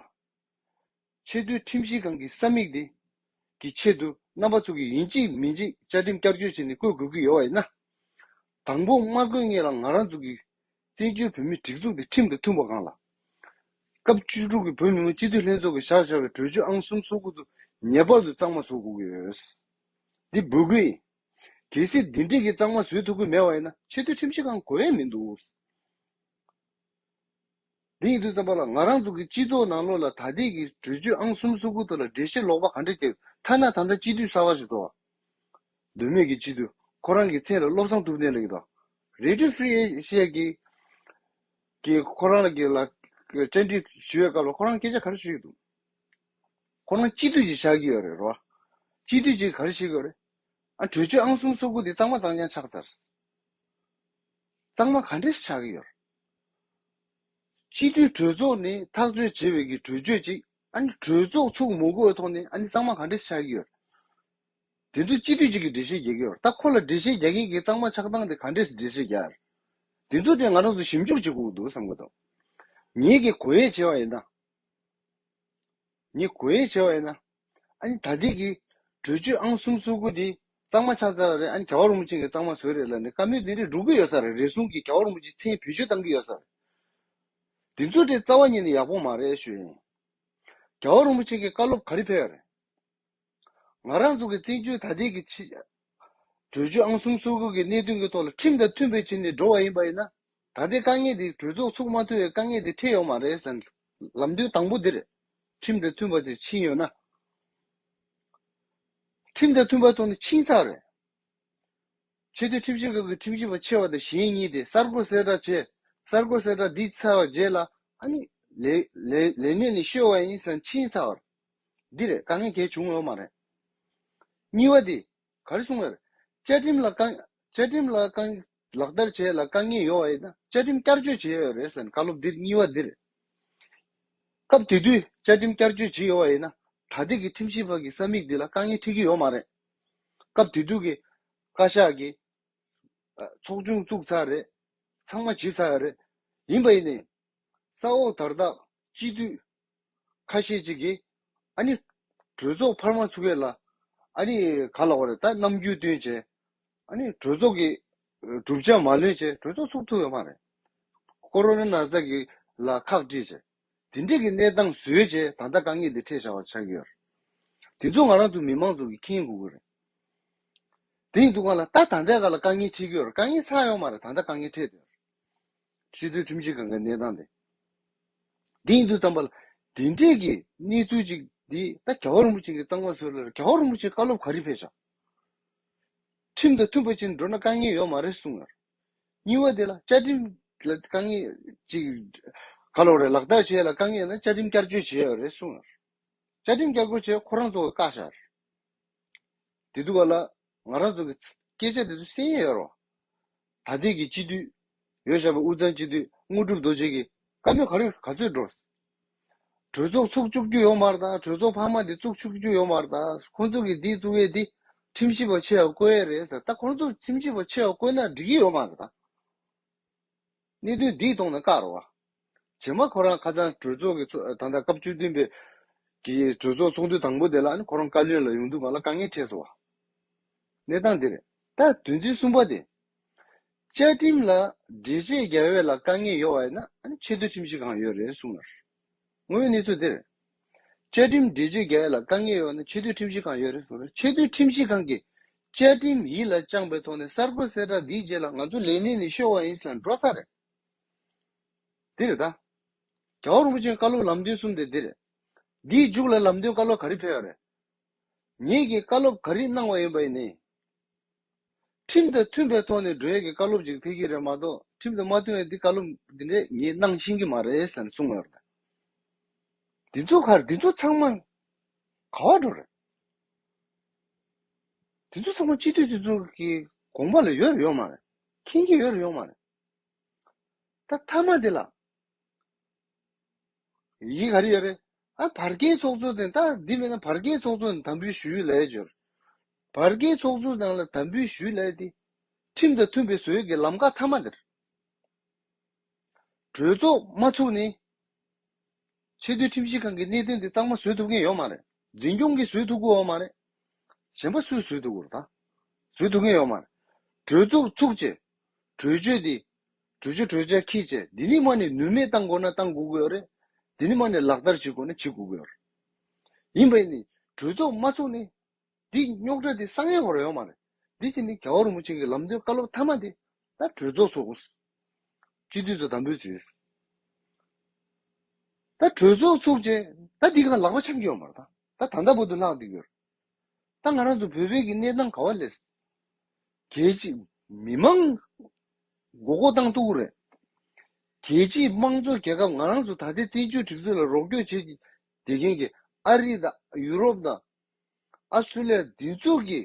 ཆེས་མཐོའི་ཁྲིམས་ཞིབ་ཁང་གི་ས་མིག་དེ་གི་ཆེད་དུ་རྣམ་པ་ཚུགས་ཀྱི་ཡིན་གཅིག་མིན་གཅིག་བཅའ་ཁྲིམས་བསྐྱར་བཅོས་བྱས་ནས་བསྐོས་དགོས་ཀྱི་ཡོད་བ་ཡིན་ན། དང་པོ་དམར་རྒོད་ལྔས་ལ་ང་རང་ཚུགས་ཀྱི་བཙན་བྱོལ་བོད་མིའི་སྒྲིག་འཛུགས་དེ་ཁྲིམས་དང་མཐུན་པ་གང་ལགས། སྐབས་བཅུ་དྲུག་གི་བོད་མི་མང་སྤྱི་འཐུས་ལྷན་ཚོགས་ཀྱི་བཞག་འཆར་བའི་གྲོས་ཆོད་ཨང་གསུམ་སོ་དགུ་དུ་ངེས་པར་དུ་གཙང་མ་བཟོ་དགོས་ཀྱི་ཡོད། འདི་འབུལ་དགོས་ཡིན། གལ་སྲིད་འདི་འགྲིག་གི་གཙང་མ་བཟོས་ཐུབ་ཀྱི་མེད་བ་ཡིན་ན་ཆེས་མཐོའི་ཁྲིམས་ཞིབ་ཁང་གོ་ཡས་མི་འདུག། འདི་ཡིན་དུས་བརྩམས་པ་ལ་ང་རང་ཚོ་གི་སྤྱི་ཚོགས་ནང་བློ་ལ་ད་ལྟའི་གི་གྲོས་ཆོད་ཨང་གསུམ་སོ་དགུ་དོ་ལ་འགྲེལ་བཤད་ལོག་པ་ག་འདྲ་བརྒྱབ་ཐ་ན་ད་ལྟ་སྤྱི་འཐུས་གསར་བ་ཞིག་བཟོ་བ་འདོད་མོད་ཀྱི་སྤྱི་འཐུས་ཁོ་རང་གི་མཚན་ལ་བློ་བཟང་ཐུབ་བསྟན་ལགས་ཀྱི་དང། Radio Free Asia གི་གིས་ཁོ་རང་ལ་གི་ལ་བཅར་འདྲི་ཞུས་བའི་སྐབས་ལ་ཁོ་རང་སྐད་ཆ་ག་རེ་ཞུས་ཡོད་འདུག་ཁོ་རང་སྤྱི་འཐུས་ཅིག་བཞག་གི་ཡོད་རེད་རོ། སྤྱི་འཐུས་ཅིག་ག་རེ་བྱེད་གི་ཡོད་རེད། ཨ་གྲོས་ཆོད་ཨང་གསུམ་སོ་དགུ་འདི་གཙང་མ་གཙང་རྐྱང་ཆགས་ཚར། གཙང་མ་ག་འདྲས་ཆགས་ཀྱི་ཡོད། སྤྱི་འཐུས་གྲོས་ཚོགས་ནི་ཐག་གཅོད་བྱེད་པའི་གི་གྲོས་ཆོད་ཅིག་ཨ་ནི་གྲོས་ཚོགས་ཚུགས་མུ་གོའི་ཐོག་ནས་ཨ་ནི་གཙང་མ་ག་འདྲས་ཆགས་ཀྱི་ཡོད། དེ་ཚོ་སྤྱི་འཐུས་ཅིག་གིས་འགྲེལ་བཤད་རྒྱག་གི་ཡོད། ད་ཁོ་ལ་འགྲེལ་བཤད་རྒྱག་མཁན་གྱིས་གཙང་མ་ཆགས་སྟངས་དེ་ག་འདྲས་འགྲེལ་བཤད་རྒྱག་ཨེ། དེ་ཚོ་དེ་ང་རང་ཚོ་ཞིབ་འཇུག་བྱེད་དགོས་ཀྱི་འདུག་བསམ་གྱི་འདུག། ངེད་ཀྱིས་གོ་ཡས་བྱས་པ་ཡིན་ན། ངེད་གོ་ཡས་བྱས་པ་ཡིན་ན། ཨ་ནི་ད་ལྟིག་གི། གྲོས་ཆོད་ཨང་གསུམ་བསུ་དགོས་འདི། གཙང་མ་ཆགས་ཚར་བ་རེད་ཨ་ནི་ག་བ་རུང་བ་ཅན་གི་གཙང་མ་བཟོས་རེད་ལ་ནི་ཀ་མེད་འདི་རེ་འབྲུག་པོ་ཡོད་ས་རེད་རེ་ཟུང་གི་ག་བ་རུང་བ་ཅིག་མཚན་བེད་སྤྱོད་གཏང་གི་ཡོད་ས་རེད། འདི་ཚོ་དེ་རྩ་བ་ཉིད་ནས་ཡག་པོ་མ་རེད་ཞུ་ཡིན། ག་བ་རུང་བ་ཅན་གི་བཀའ་སློབ་ག་རེ་ཕེལ་བ་རེད། ང་རང་ཚོ་གི་བཙན་བྱོལ་ད་ལྟིག་གི་ཕྱི། གྲོས་ཆོད་ཨང་གསུམ་སོ་དགུ་གི་གནད་དོན་གྱི་ཐོག་ལ་ཁྲིམས་དང་མཐུན་པའི་ཆེད་ནས་འགྲོ་བ་ཡིན་པ་ཡིན་ན། ད་ལྟའི་དཀའ་ངལ་འདི་གྲོས་ཚོགས་ཚུགས་མ་ཐུབ་བའི་དཀའ་ངལ་འདི་འཕྲད་ཡོང་མ་རེད་བསམ། ལམ་སྟོན་དང་པོ་འདིར་ཁྲིམས་དང་མཐུན་པ་དེ་ཕྱིན་ཡོད་ན། ཁྲིམས་དང་མཐུན་པ་ཐོག་ནས་ཕྱིན་ཚར་རེད། ཆེས་མཐོའི་ཁྲིམས་ཞིབ་ཁང་གི་ཁྲིམས་ཞིབ་པ་ཆེ་བ་དང་གཞན་གཉིས་དེ་གསར་འགོད་གསལ་བསྒྲགས་བྱས། གསར་འགོད་གསལ་བསྒྲགས་འདི་ཚར་བ་རྗེས་ལ། ལས་གནས་ནས་བཤོལ་བ་ཡིན་བསམ་ཕྱིན་ཚར། འདི་རེད་དཀའ་ངལ་གལ་བྱུང་ཡོད་མ་རེད། གཉིས་བ་དེ། ག་རེ་གསུངས་ཡོད་རེད། བཅའ་ཁྲིམས་ལ་དཀའ། བཅའ་ཁྲིམས་ལ་དཀའ། ལག་བསྟར་བྱས་ལ་དཀའ་ངལ་ཡོད་ཡིན་ན་བཅའ་ཁྲིམས་བསྐྱར་བཅོས་བྱས་ཡོད་རེད་ཟེར་ན་བཀའ་སློབ་འདིར་གཉིས་བ་འདི་རེད། སྐབས་དེ་དུས་བཅའ་ཁྲིམས་བསྐྱར་བཅོས་བྱས་ཡོད་ཡིན་ན་ད་ལྟའི་གི་ཁྲིམས་ཞིབ་བར་གི་ས་མིག་འདི་ལ་དཀའ་ངལ་འཕྲད་ཀྱི་ཡོད་མ་རེད། སྐབས་དེ་དུས་གི། བཀའ་ཤག་གི། ཚོགས་ཆུང་བཙུགས་ཚར་རེད། ཚང་མ་བྱས་ཚར་ཡོད་རེད། ཡིན་པ་ཡིན་ནའི། ས་འོག་དར་ཐག་གཅིག་བསྡུས། ཁ་ཤས་ཅིག་གིས། ཨ་ནི། གྲོས་ཚོགས་འཕར་མ་ཚུགས་ཡས་ལ། ཨ་ནི། ག་ལ་བ་རེད་ད་ནམ་རྒྱུས་སྟོན་བྱས། ཨ་ནི། གྲོས་ཚོགས་ཀྱི། གྲུབ་ཆ་མ་ལོན་བྱས་གྲོས་ཚོགས་ཚུགས་ཐུབ་ཡས་མ་རེད། ཀོ་རོ་ན་ནགས་ཚལ་གྱི། ལ་ཁག་དཀྲིས་བྱས། དེ་འདྲས་ཀྱི་གནས་སྟངས་བཟོས་བྱས་ད་ལྟ་དཀའ་ངལ་འདི་འཕྲད་བྱ་བ་ཆགས་ཡོད། དེ་ཚོ་ང་རང་ཚོ་མི་མང་ཚོ་གི་ཁེངས་དགོས་གི་རེད། དེ་ཡིན་དུ་ག་ལ་ད་ད་ལྟའི་ག་ལ་དཀའ་ངལ་འཕྲད་ཀྱི་ཡོད་རེད་དཀའ་ངལ་ཚགས་ཡོད་མ་རེད་ད་ལྟ་དཀའ་ངལ་འཕྲད་དུ་ཡོད། སྤྱི་འཐུས་ཁྲིམས་ཆད་གང་གཱའི་གནས་སྟངས་དེ། འདི་ཡིན་དུས་བརྩམས་པ་ལ། དེ་འབྲེལ་གྱི་གནས་ཚུལ་གཅིག་འདི་ད་ག་བ་རིན་པོ་ཆེ་གིས་གཙང་མ་བཟོས་ལར་ག་བ་རིན་པོ་ཆེ་བཀའ་སློབ་ག་རེ་ཕེབས་བཞག་ཁྲིམས་དང་མཐུན་པ་ཅན་འགྲོ་ན་དཀའ་ངལ་ཡོད་མ་རེད་གསུངས་ཡར། གཉིས་བ་དེ་ལ་བཅའ་ཁྲིམས་ལ་དཀའ་ངལ་ཅིག་ག་ལོག་རེད་ལག་བསྟར་བྱས་ལ་དཀའ་ངལ་ན་བཅའ་ཁྲིམས་བསྐྱར་བཅོས་བྱེད་ཡོད་རེད་གསུངས་ཡར། བཅའ་ཁྲིམས་བསྐྱར་བསྐོ་བྱས་ཁོ་རང་ཚོ་བཀག་བཞག་ཡར། དེ་དུས་བ་ལ་ང་རང་ཚོ་གི་སྐད་ཆ་དེ་ཚོ་གསན་ཡས་ཡོད་རོང། ད་ལྟས་ཀྱི་སྤྱི་འཐུས་ཡོད་ཞག་པ་དབུས་གཙང་སྤྱི་འཐུས་དངོས་གྲུབ་རྡོ་རྗེ་གིས་བཀའ་མོལ་ག་རེ་ག་ཚོད་འགྲོ། གྲོས་ཚོགས་ཚུགས་བཅུག་རྒྱུ་ཡོད་མར་དང་གྲོས་ཚོགས་འཕར་མ་དེ་བཙུགས་ཆུགས་རྒྱུ་ཡོད་མར་དང་ཁོང་ཚོ་གིས་འདི་བཙུགས་ཡས་འདི་ཁྲིམས་ཞིབ་པ་ཆེ་ཡ་བསྐོས་ཡས་རེད་ཟེར་ད་ཁོང་ཚོ་ཁྲིམས་ཞིབ་པ་ཆེ་ཡ་བསྐོས་ན་འགྲིག་གི་ཡོད་མ་རེད་དང། གནད་དོན་འདི་མཐོང་ན་བཀག་རོགས། རྗེས་མ་ཁོ་རང་ཁ་ཚང་གྲོས་ཚོགས་ཀྱི་ཚོགས་ད་ལྟ་སྐབས་བཅུ་བདུན་པའི་གི་གྲོས་ཚོགས་ཚོགས་འདུ་དང་པོ་དེ་ལ་ནི་ཁོ་རང་བཀའ་བློན་ལ་ཡོང་དུས་གང་ལ་དཀའ་ངལ་འཕྲད་སོང་བ། གནས་སྟངས་དེ་རེད། ད་དོན་ཚན་གསུམ་པ་དེ། བཅའ་ཁྲིམས་ལ་འགྲེལ་བཤད་རྒྱག་ཡོད་ལ་དཀའ་ངལ་ཡོད་བ་ཡིན་ན་ནི་ཆེས་མཐོའི་ཁྲིམས་ཞིབ་ཁང་ཡོད་རེད་གསུངས་ཡོད། ངོ་བོའི་གནས་ཚུལ་འདིར། བཅའ་ཁྲིམས་འགྲེལ་བརྗོད་རྒྱ་ཡིག་ལ་དཀའ་ངལ་ཡོད་ན་ཆེས་མཐོའི་ཁྲིམས་ཞིབ་ཁང་ཡོད་རེད་གསུངས་ན་ཆེས་མཐོའི་ཁྲིམས་ཞིབ་ཁང་གིས་བཅའ་ཁྲིམས་ཡིད་ལ་བཅངས་པའི་ཐོག་ནས་གསར་བསྐོ་གསལ་བསྒྲགས་འདིའི་རྗེས་ལ་ང་ཚོ་ལས་གནས་ནས་ཤོར་བ་ཡིན་ཟེར་ན་འགྲོ་ས་རེད། འདི་རེད་ད། རྒྱ་བོད་རིན་པོ་ཆེན་བཀའ་སློབ་ལམ་སྟོན་གསུམ་དེ་འདི་རེད། འདིའི་མཇུག་ལ་ལམ་སྟོན་བཀའ་སློབ་ག་རེ་ཕེལ་བ་རེད། ངེད་ཀྱིས་བཀའ་སློབ་ག་རེ་གནང་བ་ཡིན་པ་ཡིན་ནའི། ཁྲིམས་དང་མཐུན་པའི་ཐོག་ནས་འགྲོ་ཡས་ཀྱི་བཀའ་སློབ་ཅིག་ཕེབས་ཀྱི་རེད་མ་གཏོགས་ཁྲིམས་དང་མ་མཐུན་བའི་འདི་བཀའ་སློབ་འདི་འདྲས་ངས་གནང་ཤེས་ཀྱི་མ་རེད་ཟེར་ནས་གསུངས་ཡོད་རེད། འདི་ཚོ་ཁར་འདི་ཚོ་ཚང་མ་ག་བ་འགྲོ་རེད། འདི་ཚོ་ཚང་མ་སྤྱི་འཐུས་འདི་ཚོ་གི་དགོངས་པ་ལ་ཡོད་རེད་ཡོད་མ་རེད། མཁྱེན་གྱི་ཡོད་རེད་ཡོད་མ་རེད། ད་མཐའ་མ་འདི་ལ། ཡིག་ག་རེ་ཡོད་རེད། ཨ་བར་བརྒལ་ཚོགས་གཙོ་དེ་ད་འདི་མིན་ན་བར་བརྒལ་ཚོགས་གཙོ་དང་དམ་འབུལ་ཞུ་ཡུལ་ལས་འབྱོར། བར་བརྒལ་ཚོགས་གཙོ་ནང་ལ་དམ་འབུལ་ཞུ་ལས་དེ། ཁྲིམས་དང་མཐུན་པའི་ཟོལ་གྱི་ལམ་ཁ་མཐའ་མ་དེར། གྲོས་ཚོགས་མ་ཚུགས་ནས། ཆེས་མཐོའི་ཁྲིམས་ཞིབ་ཁང་གི་གནད་དོན་དེ་གཙང་མ་བཟོས་ཐུབ་མཁན་ཡོད་མ་རེད། འཛིན་སྐྱོང་གིས་བཟོས་ཐུབ་གོའོ་མ་རེད། གཞན་པ་སུས་བཟོས་ཐུབ་གོ་རེད་ད། བཟོས་ཐུབ་མཁན་ཡོད་མ་རེད། གྲོས་ཚོགས་ཚུགས་རྗེས། གྲོས་ཆོད་དེ། གྲོས་ཆོད་གྲོས་འཆར་ཁྱེད་ཀྱིས་འདི་ནི་མ་ནི་ནུས་མེད་བཏང་དགོས་ན་བཏང་དགོས་ཀྱི་ཡོད་རེད། འདི་ནི་མ་ནི་ལག་བསྟར་བྱེད་དགོས་ན་བྱེད་དགོས་ཀྱི་ཡོད་རེད། ཡིན་པས་ནི་གྲོས་ཚོགས་མ་ཚོགས་ནི། འདི་རྙོག་དྲ་འདི་གསང་ཡང་བར་ཡོང་མ་རེད། འདི་བཞིན་ནི་ག་བ་རིན་པོ་ཆེ་གི་ལམ་སྟོན་བཀའ་སློབ་མཐའ་མ་འདི་ད་གྲོས་ཚོགས་ཚོགས་དགོས། སྤྱི་འཐུས་ཚོ་དམ་འབུལ་བྱོས། ད་གྲོས་ཚོགས་ཚོགས་རྗེས་ད་འདི་གང་ལག་པ་འཆང་གི་ཡོད་མ་རེད་ད། ད་ད་ལྟ་བུ་དུ་ལྷག་འདི་གི་ཡོད་རེད། ད་ང་རང་ཚོ་བོད་པའི་གི་གནས་སྟངས་ག་བ་ལས། རྒྱལ་སྤྱིས་མི་མང་མགོ་སྐོར་བཏང་ཐུབ་རེད། རྒྱལ་སྤྱིས་དམངས་གཙོ་རྒྱལ་ཁབ་ང་རང་ཚོ་ད་ལྟའི་བཙན་བྱོལ་སྒྲིག་འཛུགས་ལ་རོགས་སྐྱོར་བྱེད་བསྡད་མཁན་གི་ཨ་རི་དང་ཡུ་རོབ་དང། ཨ་སི་ཐྲུ་ལི་ཡ་འདི་ཚོ་གི་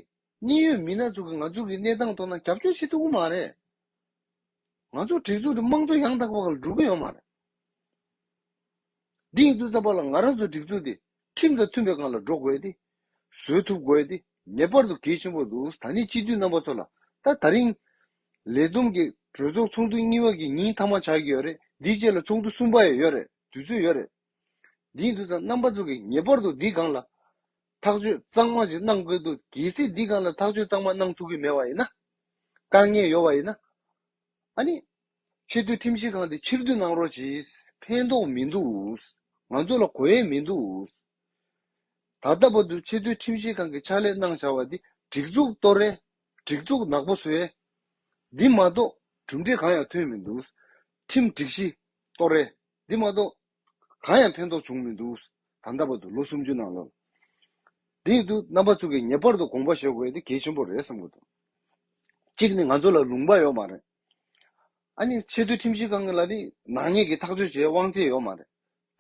གནད་ཡོད་མི་སྣ་ཚོ་གི་ང་ཚོ་གི་གནས་སྟངས་ཐོག་ན་རྒྱབ་སྐྱོར་བྱེད་ཐུབ་ཀི་མ་རེད། ང་ཚོ་བྲེལ་ཚུགས་ཀྱི་དམངས་གཙོ་ཡང་དག་པ་ཁག་ལ་འགྲོ་གི་ཡོད་མ་རེད། འདི་ཡིན་དུས་རྩ་བ་ལ་ང་རང་ཚོའི་སྒྲིག་འཛུགས་དེ་ཁྲིམས་དང་མཐུན་པའི་སྒང་ལ་འགྲོ་དགོས་ཏེ། བཟོད་ཐུབ་དགོས་ཏེ་ངེས་པར་དུ་གལ་ཆེན་པོ་འདུག་ད་ནི་སྤྱི་འཐུས་རྣམ་པ་ཚོ་ལ་ད་ད་རིང། ལས་བསྡོམས་ཀྱི་གྲོས་ཚོགས་ཚོགས་འདུ་གཉིས་པ་གི་ཉིན་མཐའ་མ་ཆགས་ཀྱི་ཡོད་རེད་འདིའི་རྗེས་ལ་ཚོགས་འདུ་གསུམ་པ་ཡང་ཡོད་རེད་དུས་ཚོད་ཡོད་རེད། འདི་ཡིན་དུས་རྩ་རྣམ་པ་ཚོ་གིས་ངེས་པར་དུ་འདིའི་སྒང་ལ། ཐག་གཅོད་གཙང་མ་ཞིག་གནང་དགོས་འདུག་གལ་སྲིད་འདི་ག་ལ་ཐག་གཅོད་གཙང་མ་གནང་ཐུབ་ཀྱི་མེད་པ་ཡིན་ན། དཀའ་ངལ་ཡོད་པ་ཡིན་ན། ཨ་ནི། ཆེས་མཐོའི་ཁྲིམས་ཞིབ་ཁང་དེ་ཕྱིར་བསྡུ་གནང་རོགས་གྱིས། ཕན་ཐོགས་མི་འདུག། ང་ཚོ་ལ་གོ་ཡས་མི་འདུག། ད་ལྟ་བར་དུ་ཆེས་མཐོའི་ཁྲིམས་ཞིབ་ཁང་གི་ཕྱག་ལས་གནང་བྱ་བ་འདི་སྒྲིག་འཛུགས་སྟོར་རེད། སྒྲིག་འཛུགས་ནག་པོ་བཟོས། འདི་མ་གཏོགས་གྲུབ་འབྲས་གང་ཡང་ཐོན་མི་འདུག། ཁྲིམས་སྒྲིག་གཞི་སྟོར་རེད། འདི་མ་གཏོགས། གང་ཡང་ཕན་ཐོགས་བྱུང་མི་འདུག་ད་འདའ་བར་དུ་ལོ་སུམ་ཅུ་ནང་ལོ་འདི་ཡིན་དུས་རྣམ་པ་ཚུགས་ཀྱི་ངེས་པར་དུ་དགོངས་པ་བཞེས་དགོས་དེ་གལ་ཆེན་པོ་རེད་བསམ་གྱི་འདུག་གཅིག་ནི་ང་ཚོ་ལ་ལུང་པ་ཡོད་མ་རེད། ཨ་ནི་ཆེས་མཐོའི་ཁྲིམས་ཞིབ་ཁང་ལ་ནི་ནག་ཉེས་ཀྱི་ཐག་གཅོད་བྱེད་དབང་ཚད་ཡོད་མ་རེད།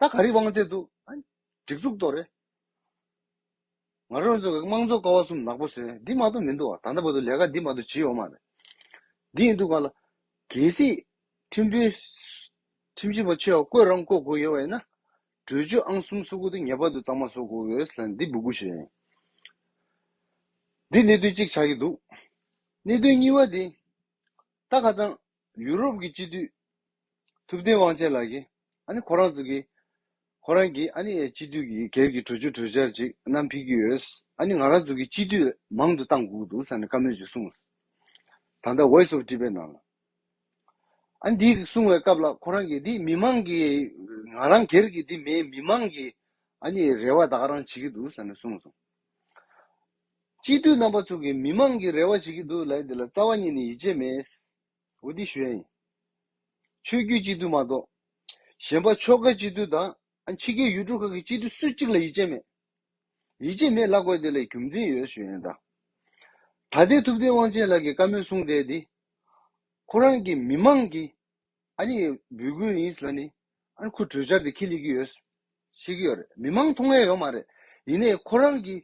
ད་ག་རེའི་དབང་ཚད་འདུག་ཨ་ནི་སྒྲིག་འཛུགས་ཏོག་རེད། ང་རང་ཚོ་དམངས་གཙོ་ཀ་བ་གསུམ་ནག་པོ་བཟོས་འདི་མ་གཏོགས་མི་འདུག་བ་ད་ལྟ་བར་དུ་ལས་ཀ་འདི་མ་གཏོགས་ཇི་ཡོད་མ་རེད་འདི་ཡིན་འདུག་ག་ལ། གལ་སྲིད། ཁྲིམས་དཔོན། ཁྲིམས་ཞིབ་པ་ཆེ་བ་བསྐོས་རང་བསྐོ་དགོས་ཡོད་བ་ཡིན་ན། གྲོས་ཆོད་ཨང་གསུམ་བཟོ་དགོས་འདུག་ངེས་པར་དུ་གཙང་མ་བཟོ་དགོས་ལ་འདི་སྦུ་གུ་ཞིག་རེད། འདི་གནད་དོན་གཅིག་ཆགས་ཀྱི་འདུག་གནད་དོན་གཉིས་བ་དེ། ད་ཁ་ཙང། ཡུ་རོབ་ཀྱི་སྤྱི་འཐུས། ཐུབ་བསྟན་དབང་ཆེན་ལགས་ཀྱིས། ཨ་ནི་ཁོ་རང་ཚོ་གིས། ཁོ་རང་གིས་ཨ་ནི་སྤྱི་འཐུས་ཀྱི་སྒེར་གྱི་གྲོས་ཆོད་གྲོས་འཆར་ཅིག་བསྣམས་ཕེབས་ཀྱི་ཡོད། ཨ་ནི་ང་རང་ཚོ་གིས་སྤྱི་འཐུས་མང་དུ་བཏང་དགོས་ཀྱི་འདུག་ས་ནས་བཀའ་མོལ་ཅིག་གསུངས། ད་ལྟ Voice of Tibet ནང་ལ། ཨ་ནི་འདི་གསུངས་བའི་སྐབས་ལ་ཁོ་རང་གིས་འདི་མི་མང་གི། ང་རང་སྒེར་གྱི་འདི་མི་མི་མང་གི། ཨ་ནི་རེ་བ་ད་ག་རང་བྱེད་ཀྱི་འདུག་ས་ནས་གསུངས་སོང། སྤྱི་འཐུས་རྣམ་པ་ཚོ་གིས་མི་མང་གི་རེ་བ་བྱེད་ཀྱི་འདུག་ལས་འདི་ལ་རྩ་བ་ཉིད་ནས་ཡིད་ཆེས་མེད། ཝུ་ཏི་ཞུན། ཆོས་བརྒྱུད་སྤྱི་འཐུས་མ་གཏོགས། གཞན་པ་ཕྱོགས་འགའི་སྤྱི་འཐུས་དང། ཕྱི་རྒྱལ་ཡུལ་གྲུ་ཁག་གི་སྤྱི་འཐུས་སུ་གཅིག་ལ་ཡིད་ཆེས་མེད། ཡིད་ཆེས་མེད་ལབ་དགོས་དེ་ལས་རྒྱུ་མཚན་ཡོད་ཞུ་ཡོད་ད། ད་ལྟའི་ཐུབ་བསྟན་དབང་ཆེན་ལགས་ཀྱི་བཀའ་མོལ་གསུང་བསྡད་འདི། ཁོ་རང་གིས་མི་མང་གི། ཨ་ནི་འབུད་དགོས་ཡིན་ལ་ནི་ཨ་ནི་ཁོ་གྲོས་འཆར་དེ་ཁས་ལེན་གྱི་ཡོད། ཤེས་ཀྱི་ཡོད་རེད་མི་མང་མཐོང་ཡ་ཡོད་མ་རེད་ཡིན་ནས་ཁོ་རང་གིས་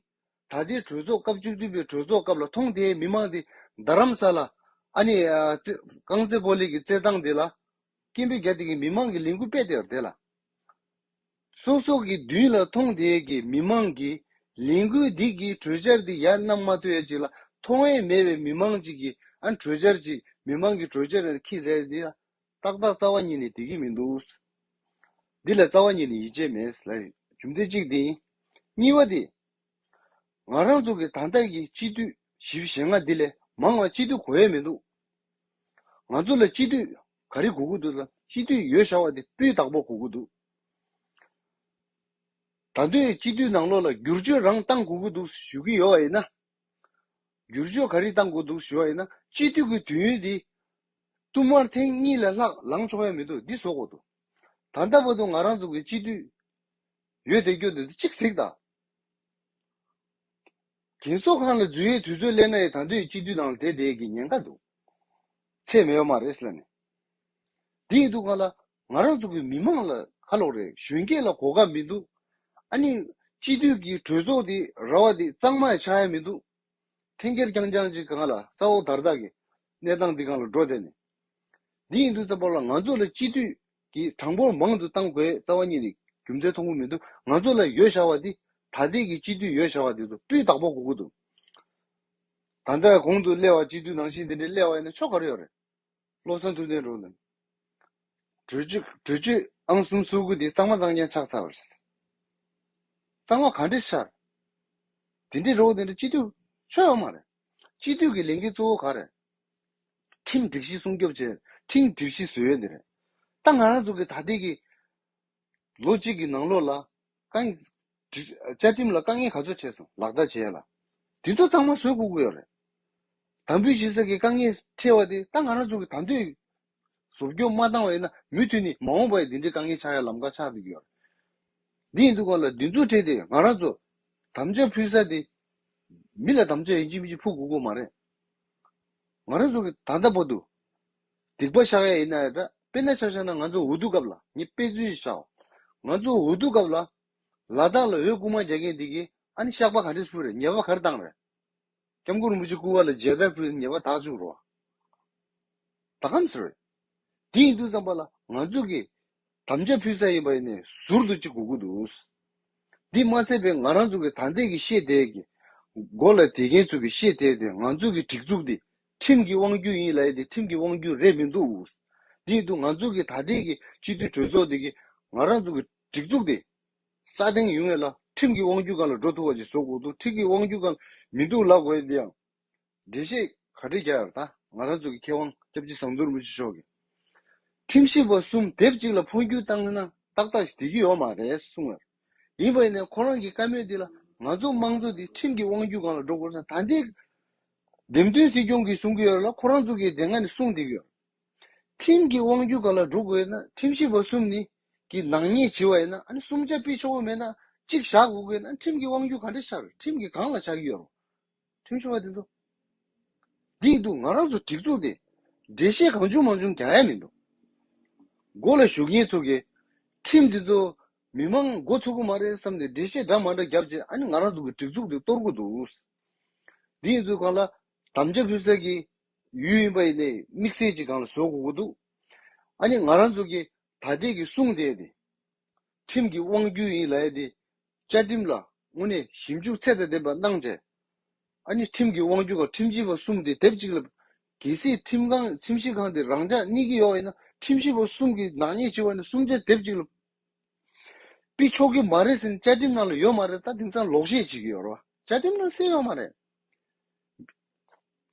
ད་ལྟའི་གྲོས་ཚོགས་སྐབས་བཅུ་བདུན་པའི་གྲོས་ཚོགས་སྐབས་ལ་མཐོང་དེ་མི་མང་དེ་རྡ་རམ་ས་ལ་ཨ་ནི་རྐང་རྩེད་སྤོ་ལེགས་ཀྱི་རྩེད་སྟངས་དེ་ལ་སྐྱེན་པའི་རྒྱ་དེ་གིས་མི་མང་གི་ལས་འགུལ་སྤེལ་དེ་རེད་ལ། སོ་སོ་གི་མདུན་ལ་ཐོངས་དེ་གི་མི་མང་གིས་ལས་འགུལ་འདི་གི་གྲོས་འཆར་འདི་ཡར་གནང་མ་ཐོས་ཅིག་ལ་མཐོང་ཡས་མེད་པའི་མི་མང་ཅིག་གིས་ཨ་གྲོས་འཆར་ཅིག་མི་མང་གི་གྲོས་འཆར་ལ་ཁྱི་ཟེར་འདི་ལ་ཏག་ཏག་རྩ་བ་ཉིད་ནས་དེ་གི་མི་འདུག་ཟེར། འདི་ལ་རྩ་བ་ཉིད་ནས་ཡིད་ཆེས་མེད་ཟེར་ལ་རྒྱུ་མཚན་གཅིག་དེ་ཡིན། གཉིས་བ་དེ། ང་རང་ཚོ་གི་ད་ལྟ་གི་སྤྱི་འཐུས་བཞི་བཞི་ལྔ་འདི་ལས་མང་བ་སྤྱི་འཐུས་གོ་ཡས་མི་འདུག་ང་ཚོ་ལ་སྤྱི་འཐུས་ག་རེ་གོ་གི་འདུག་ཟེར་ན་སྤྱི་འཐུས་ཡོད་ཤག་བ་དེ་སྤུས་དག་པོ་གོ་གི་འདུག་ད་དུས་སྤྱི་འཐུས་ནང་ལོགས་ལ་བསྒྱུར་བཅོས་རང་གཏང་དགོས་ཀྱི་འདུག་ཞུ་གི་ཡོད་པ་ཡིན་ན། བསྒྱུར་བཅོས་ག་རེ་གཏང་དགོས་འདུག་ཞུ་བ་ཡིན་ན་སྤྱི་འཐུས་ཀྱི་དུས་ཡུན་དེ། བསྟུད་མར་ཐེངས་གཉིས་ལས་ལྷག་ལངས་ཆོག་ཡ་མི་འདུག་འདི་བཟོ་དགོས་འདུག་ད་ལྟ་བར་དུ་ང་རང་ཚོ་གི་སྤྱི་འཐུས། ཡོད་དེ་སྐྱོ་དེ་གཅིག་གཟིགས་དང། རྒན་གསོ་ཁང་ལ་འཛུལ་ཡས་དུས་ཚོད་སླེབས་ན་ཡས་དང་དོད་ཡས་སྤྱི་འཐུས་དང་ལ་དེད་དེད་ཀྱི་ཉེན་ཁ་འདུག་ཚད་མེད་བ་མ་རེད་ལ་ནས། དེ་ཡིན་དུ་ག་ལ་ང་རང་ཚོ་གི་མི་མང་ལ་ཁ་ལོག་རེད་གཞོན་སྐྱེས་ལ་གོ་སྐབས་མི་འདུག་ཨ་ནི་སྤྱི་འཐུས་ཀྱི་གྲོས་ཚོགས་དེ་ར་བ་དེ་གཙང་མ་ཡ་ཆགས་ཡ་མི་འདུག་འཐེན་འཁྱེར་རྐྱང་རྐྱང་ཅིག་གང་ལ་ས་འོག་དར་དག་གི་གནས་སྟངས་དེ་གང་ལ་འགྲོ་བསྡད་ནས། དེ་ཡིན་དུ་ཙམ་པ་ལ་ང་ཚོ་ལ་སྤྱི་འཐུས་གྱིས་གྲངས་འབོར་མང་དུ་གཏང་དགོས་རྩ་བ་ཉིད་ནས་རྒྱུ་མཚན་མཐོང་གི་མི་འདུག་ང་ཚོ་ལ་ཡོད་བཞག་བ་དེ་ད་ལྟའི་གི་སྤྱི་འཐུས་ཡོད་བཞག་བ་དེ་ཚོ་སྤུས་དག་པོ་དགོས་ཀྱི་འདུག་ད་ལྟ་གོང་དུ་གླེ་བ་སྤྱི་འཐུས་ནང་བཞིན་དེ་འདྲའི་གླེ་བ་ཡིན་ན་ཆོ་ག་རེ་ཡོད་རེད་བློ་བཟང་ཐུབ་བསྟན་རུ་ལ་གྲོས་ཆོད་གྲོས་ཆོད་ཨང་གསུམ་གསོལ་དགུ་དེ་གཙང་མ་གཙང་རྐྱང་ཆགས་ཚར་བ་རེད་གཙང་བ་ག་འདྲས་ཤར་དེ་འདྲས་རོགས་དེ་འདྲས་སྤྱི་འཐུས་ཆོས་ཡོད་མ་རེད། སྤྱི་འཐུས་ཀྱི་ལས་འགན་གཙོ་བོ་གང་རེད། ཁྲིམས་སྒྲིག་གཞི་སྲུང་སྐྱོབ་བྱེད་ཁྲིམས་སྒྲིག་གཞི་བཟོས་ཡོད་འདི་རེད། ད་ང་རང་ཚོ་གི་ད་ལྟའི་གི་ལོ་གཅིག་གི་ནང་ལོགས་ལ་བཀའ་བཅའ་ཁྲིམས་ལ་དཀའ་ངལ་ག་ཚོད་འཕྲད་སོང་ལག་བསྟར་བྱས་ལ། འདི་ཚོ་ཚང་མ་བཟོས་ཁུག་གི་ཡོད་རེད། དམ་འབུལ་བྱེད་ས་གི་དཀའ་ངལ་འཕྲད་བ་དེ་ད་ང་རང་ཚོ་གི་ད་འདོད་གཟུགས་སྐྱོན་མ་བཏང་བ་ཡིན་ན་མུ་མཐུད་ནས་མ་འོངས་པར་འདི་འདྲའི་དཀའ་ངལ་ཆགས་ཡ་ལམ་ཁ་ཆགས་འདུག་ཡོད། འདི་ཡིན་འདུག་ག་ལ་འདི་ཚོ་ཁྲེལ་ཏེ་ང་རང་ཚོ་དམ་བཅའ་ཕུལ་ས་དེ་མི་ལ་དམ་བཅའ་ཡིན་གཅིག་མི་གཅིག་ཕུལ་དགོས་དགོས་མ་རེད། ང་རང་ཚོ་གི་ད་ལྟ་བར་དུ་སྡིག་པ་བཤགས་ཡ་ཡིན་ན་ཡ་འདྲ་དཔེ་ན་ཆ་བཞག་ན་ང་ཚོ་འོས་བསྡུ་སྐབས་ལ་ངས་དཔེ་མཚོན་བཞག་ང་ཚོ་འོས་བསྡུ་སྐབས་ལ་ལ་དྭགས་ལ་འོས་བསྐུར་མ་རྒྱག་མཁན་འདི་གིས་ཨ་ནི་བཤགས་པ་ག་འདྲས་ཕུལ་རེད་ཉེས་པ་ག་རེ་བཏང་རེད། སྐྱབས་མགོན་རིན་པོ་ཆེ་སྐུ་བ་ལ་མཇལ་དར་ཕུལ་ནས་ཉེས་པ་དག་བཅུག་རོགས། ད་ཁམས་ཚར་བས། དེ་ཡིན་དུས་ཙམ་པ་ལ་ང་ཚོས་ཀྱི་དམ་བཅའ་ཕུལ་ས་ཡིན་པ་ནས་ཟུར་དུ་གཅིག་གོ་དགོས་འདུག། འདི་མ་ཚད་པའི་ང་རང་ཚོ་གི་ད་ལྟའི་གི་ཤེས་དལ་གི་མགོ་ལ་དེད་མཁན་ཚོ་གི་ཤེས་དལ་དེ་ང་ཚོ་གི་སྒྲིག་འཛུགས་འདི་ཁྲིམས་ཀྱི་དབང་བརྒྱུད་ཡིན་ལའི་དེ་ཁྲིམས་ཀྱི་དབང་བརྒྱུད་རེད་མི་འདུག། དེ་ཡིན་དུས་ང་ཚོ་གི་ད་ལྟའི་གི་སྤྱི་འཐུས་གྲོས་ཚོགས་འདི་གི་ང་རང་ཚོ་གི་སྒྲིག་འཛུགས་འདི། ས་སྟེང་ཡུལ་ངེས་ལ། ཁྲིམས་ཀྱི་དབང་རྒྱུད་གང་ལ་འགྲོ་ཐུབ་བ་ཅིག་བཟོ་དགོས་འདུག་ཁྲིག་གི་དབང་རྒྱུད་གང་ལ་མི་འདུག་ལབ་དགོས་ཡིན་འདི་ཡང། འགྲེལ་བཤད་ག་དྲི་རྒྱ་ཡར་ད། ང་རང་ཚོ་གི་མཁས་དབང་སྐྱབས་རྗེ་ཟངས་དུར་རིན་པོ་ཆེ་མཆོག་གིས། ཁྲིམས་ཞིབ་པ་གསུམ་དེབ་གཅིག་ལ་འཕོ་འགྱུར་བཏང་ན་ཏག་ཏག་བསྡད་ཀྱི་ཡོད་མ་རེད་གསུངས་ཡོད། ཡིན་པ་ཡིན་ནའི་ཁོ་རང་གི་བཀའ་མོལ་འདི་ལ་ང་ཚོ་དམངས་གཙོ་འདི་ཁྲིམས་ཀྱི་དབང་རྒྱུད་གང་ལ་འགྲོ་དགོས་སམ་ད་འདི། འདེམས་ཐོན་སྲིད་སྐྱོང་གིས་གསུང་གི་ཡོད་ལ་ཁོ་རང་ཚོ་གིས་དེ་སྔ་ནས་གསུང་བསྡད་ཀྱི་ཡོད། ཁྲིམས་ཀྱི་དབང་བསྒྱུར་ག་ལ་སྒྲུབ་དགོས་ན་ཁྲིམས་ཞིབ་པ་གསུམ་ནི་གི་ནག་ཉེས་བྱེད་པ་ཡིན་ན་གསུམ་ཆ་སྤེལ་ཆོག་པོ་མེད་ན་གཅིག་བཞག་གོ་དགོས་ན་ཁྲིམས་ཀྱི་དབང་བསྒྱུར་ག་འདྲ་ཤར་ཁྲིམས་ཀྱི་གང་ལ་བཞག་གི་ཡོད་རུང་ཁྲིམས་ཞིབ་པ་དེ་ཚོ་འདིས་འདུག་ང་རང་ཚོ་སྒྲིག་འཛུགས་དེ་འགྲེལ་བཤད་གང་བྱུང་མང་བྱུང་རྒྱག་ཡ་མི་འདུག་མགོ་ལ་ཞུགས་མཁན་ཚོ་གི་ཁྲིམས་དེ་ཚོ་མི་མང་མགོ་ཚུགས་གི་མ་རེད་བསམ་ཏེ་འགྲེལ་བཤད་འདྲ་མ་འདྲ་བརྒྱབ་རྗེས་ང་རང་ཚོ་གི་སྒྲིག་འཛུགས་དེ་གཏོར་གི་འདུག་འདིས་ཚོ་གང་ལ་དམ་བཅའ་ཕུལ་ས་གི་ཡུལ་ཡིན་པ་ཡིན་ཏེ་དམིགས་བསལ་གྱི་སྒང་ལ་བཟོ་དགོས་མཁོ་འདུག་ཨ་ནི་ང་རང་ཚོ་གིས་ད་ལྟའི་གི་གསུང་དེ་ནི་ཁྲིམས་ཀྱི་དབང་བསྒྱུར་ཡིན་ལ་ཡ་ཏི་བཅའ་ཁྲིམས་ལ་དངོས་གནས་ཞིབ་འཇུག་ཚད་དང་ལྡན་པ་གནང་བྱས་ཨ་ནི་ཁྲིམས་ཀྱི་དབང་བསྒྱུར་ཁང་ཁྲིམས་ཞིབ་པ་གསུམ་དེ་དེབ་གཅིག་ལ་གལ་སྲིད་ཁྲིམས་ཁང་ཁྲིམས་ཞིབ་ཁང་དེ་རང་འཇགས་གཉིས་ཀྱི་ཡོག་ཡིན་ན་ཁྲིམས་ཞིབ་པ་གསུམ་གི་ནག་ཉེས་ཆེ་བ་ནི་གསུམ་ཆ་དེབ་གཅིག་ལ་པི་ཆོག་གི་མ་རེད་ཟེར་ནི་བཅའ་ཁྲིམས་ནང་ལ་ཡོད་མ་རེད་ད་དེང་སང་ལོག་བཤད་བྱེད་ཀྱི་ཡོག་རེད་བ་བཅའ་ཁྲིམས་ནང་གསལ་ཡོག་མ་རེད།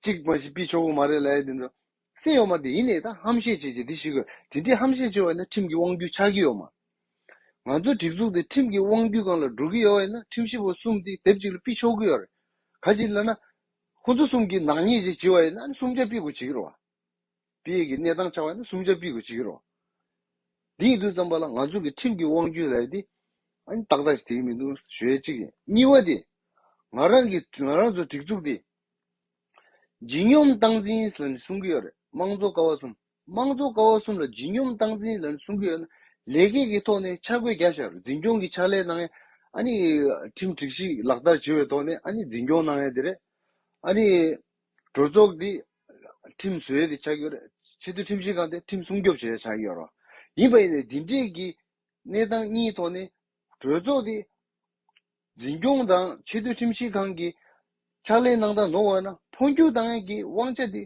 གཅིག་མ་གཞི་པི་ཆོག་གོ་མ་རེད་ལ་ཡ་དེ་འདྲ་སེམས་ཡོད་མ་དེ་ཡིན་ནའི་ད་ཧམ་བཤད་བྱེད་ཀྱི་དེ་ཞིག་གོ་དེ་འདྲའི་ཧམ་བཤད་བྱེད་བ་ཡིན་ན་ཁྲིམས་ཀྱི་དབང་བརྒྱུད་ཆགས་ཀྱི་ཡོད་མ་ང་ཚོ་སྒྲིག་འཛུགས་དེ་ཁྲིམས་ཀྱི་དབང་བརྒྱུད་གང་ལ་འགྲོ་གི་ཡོད་ཡིན་ན་ཁྲིམས་ཞིབ་པ་གསུམ་དེ་དེབ་གཅིག་ལ་པི་ཆོག་གི་ཡོད་རེད་ག་ཅིག་ལ་ན་ཁོ་ཚོ་གསུམ་གྱི་ནག་ཉེས་ཅིག་བྱེད་བ་ཡིན་ན་ཨ་ནི་སུམ་བརྒྱ་པི་གོ་བྱེད་ཀྱི་རོ་བ། པི་ཡིག་གི་གནས་སྟངས་ཆགས་པ་ནི་སུམ་ཆ་པི་གོ་ཅི་གི་རོ། འདི་ཡིན་དུ་བརྩམས་པ་ལ་ང་ཚོ་གི་ཁྲིམས་ཀྱི་དབང་རྒྱུད་ལས་དེ་ཨང་ཏག་ཏག་ཞིག་དེ་ཡིན་མི་འདུག་ཞོལ་གཅིག་ཡིན། གཉིས་བ་དེ། ང་རང་གི་ང་རང་ཚོ་སྒྲིག་འཛུགས་དེ། ལྗིད་སྙོམས་སྟངས་འཛིན་ལ་ནི་སྲུང་གི་ཡོད་རེད་དམངས་གཙོ་ཀ་བ་གསུམ། དམངས་གཙོ་ཀ་བ་གསུམ་ལ་ལྗིད་སྙོམས་སྟངས་འཛིན་ལ་ནི་སྲུང་གི་ཡོད་ན་ལས་ཀའི་གི་ཐོག་ནས་འཆར་འགོད་རྒྱ་བཞག་རེད་འཛིན་སྐྱོང་གི་ཕྱག་ལས་གནང་ཡས་ཨ་ནི་ཁྲིམས་སྒྲིག་ཞིག་ལག་བསྟར་བྱེད་པའི་ཐོག་ནས་ཨ་ནི་འཛིན་སྐྱོང་གནང་ཡས་དེ་རེད་ཨ་ནི། གྲོས་ཚོགས་འདི་ཁྲིམས་བཟོའི་དེ་ཆགས་ཀྱི་ཡོད་རེད། ཆེས་མཐོའི་ཁྲིམས་ཞིབ་ཁང་དེ་ཁྲིམས་སྲུང་སྐྱོབ་བྱེད་རེ་ཆགས་ཀྱི་ཡོད་རེད། ཡིན་པ་ཡིན་ནའི་འདི་འདྲའི་གི་གནས་སྟངས་གཉིས་ཐོག་ནས་གྲོས་ཚོགས་དེ་འཛིན་སྐྱོང་དང་ཆེས་མཐོའི་ཁྲིམས་ཞིབ་ཁང་གི་ཕྱག་ལས་གནང་སྟངས་ནོར་བ་ན་འཕོ་འགྱུར་གཏང་ཡ་གི་དབང་ཆ་དེ་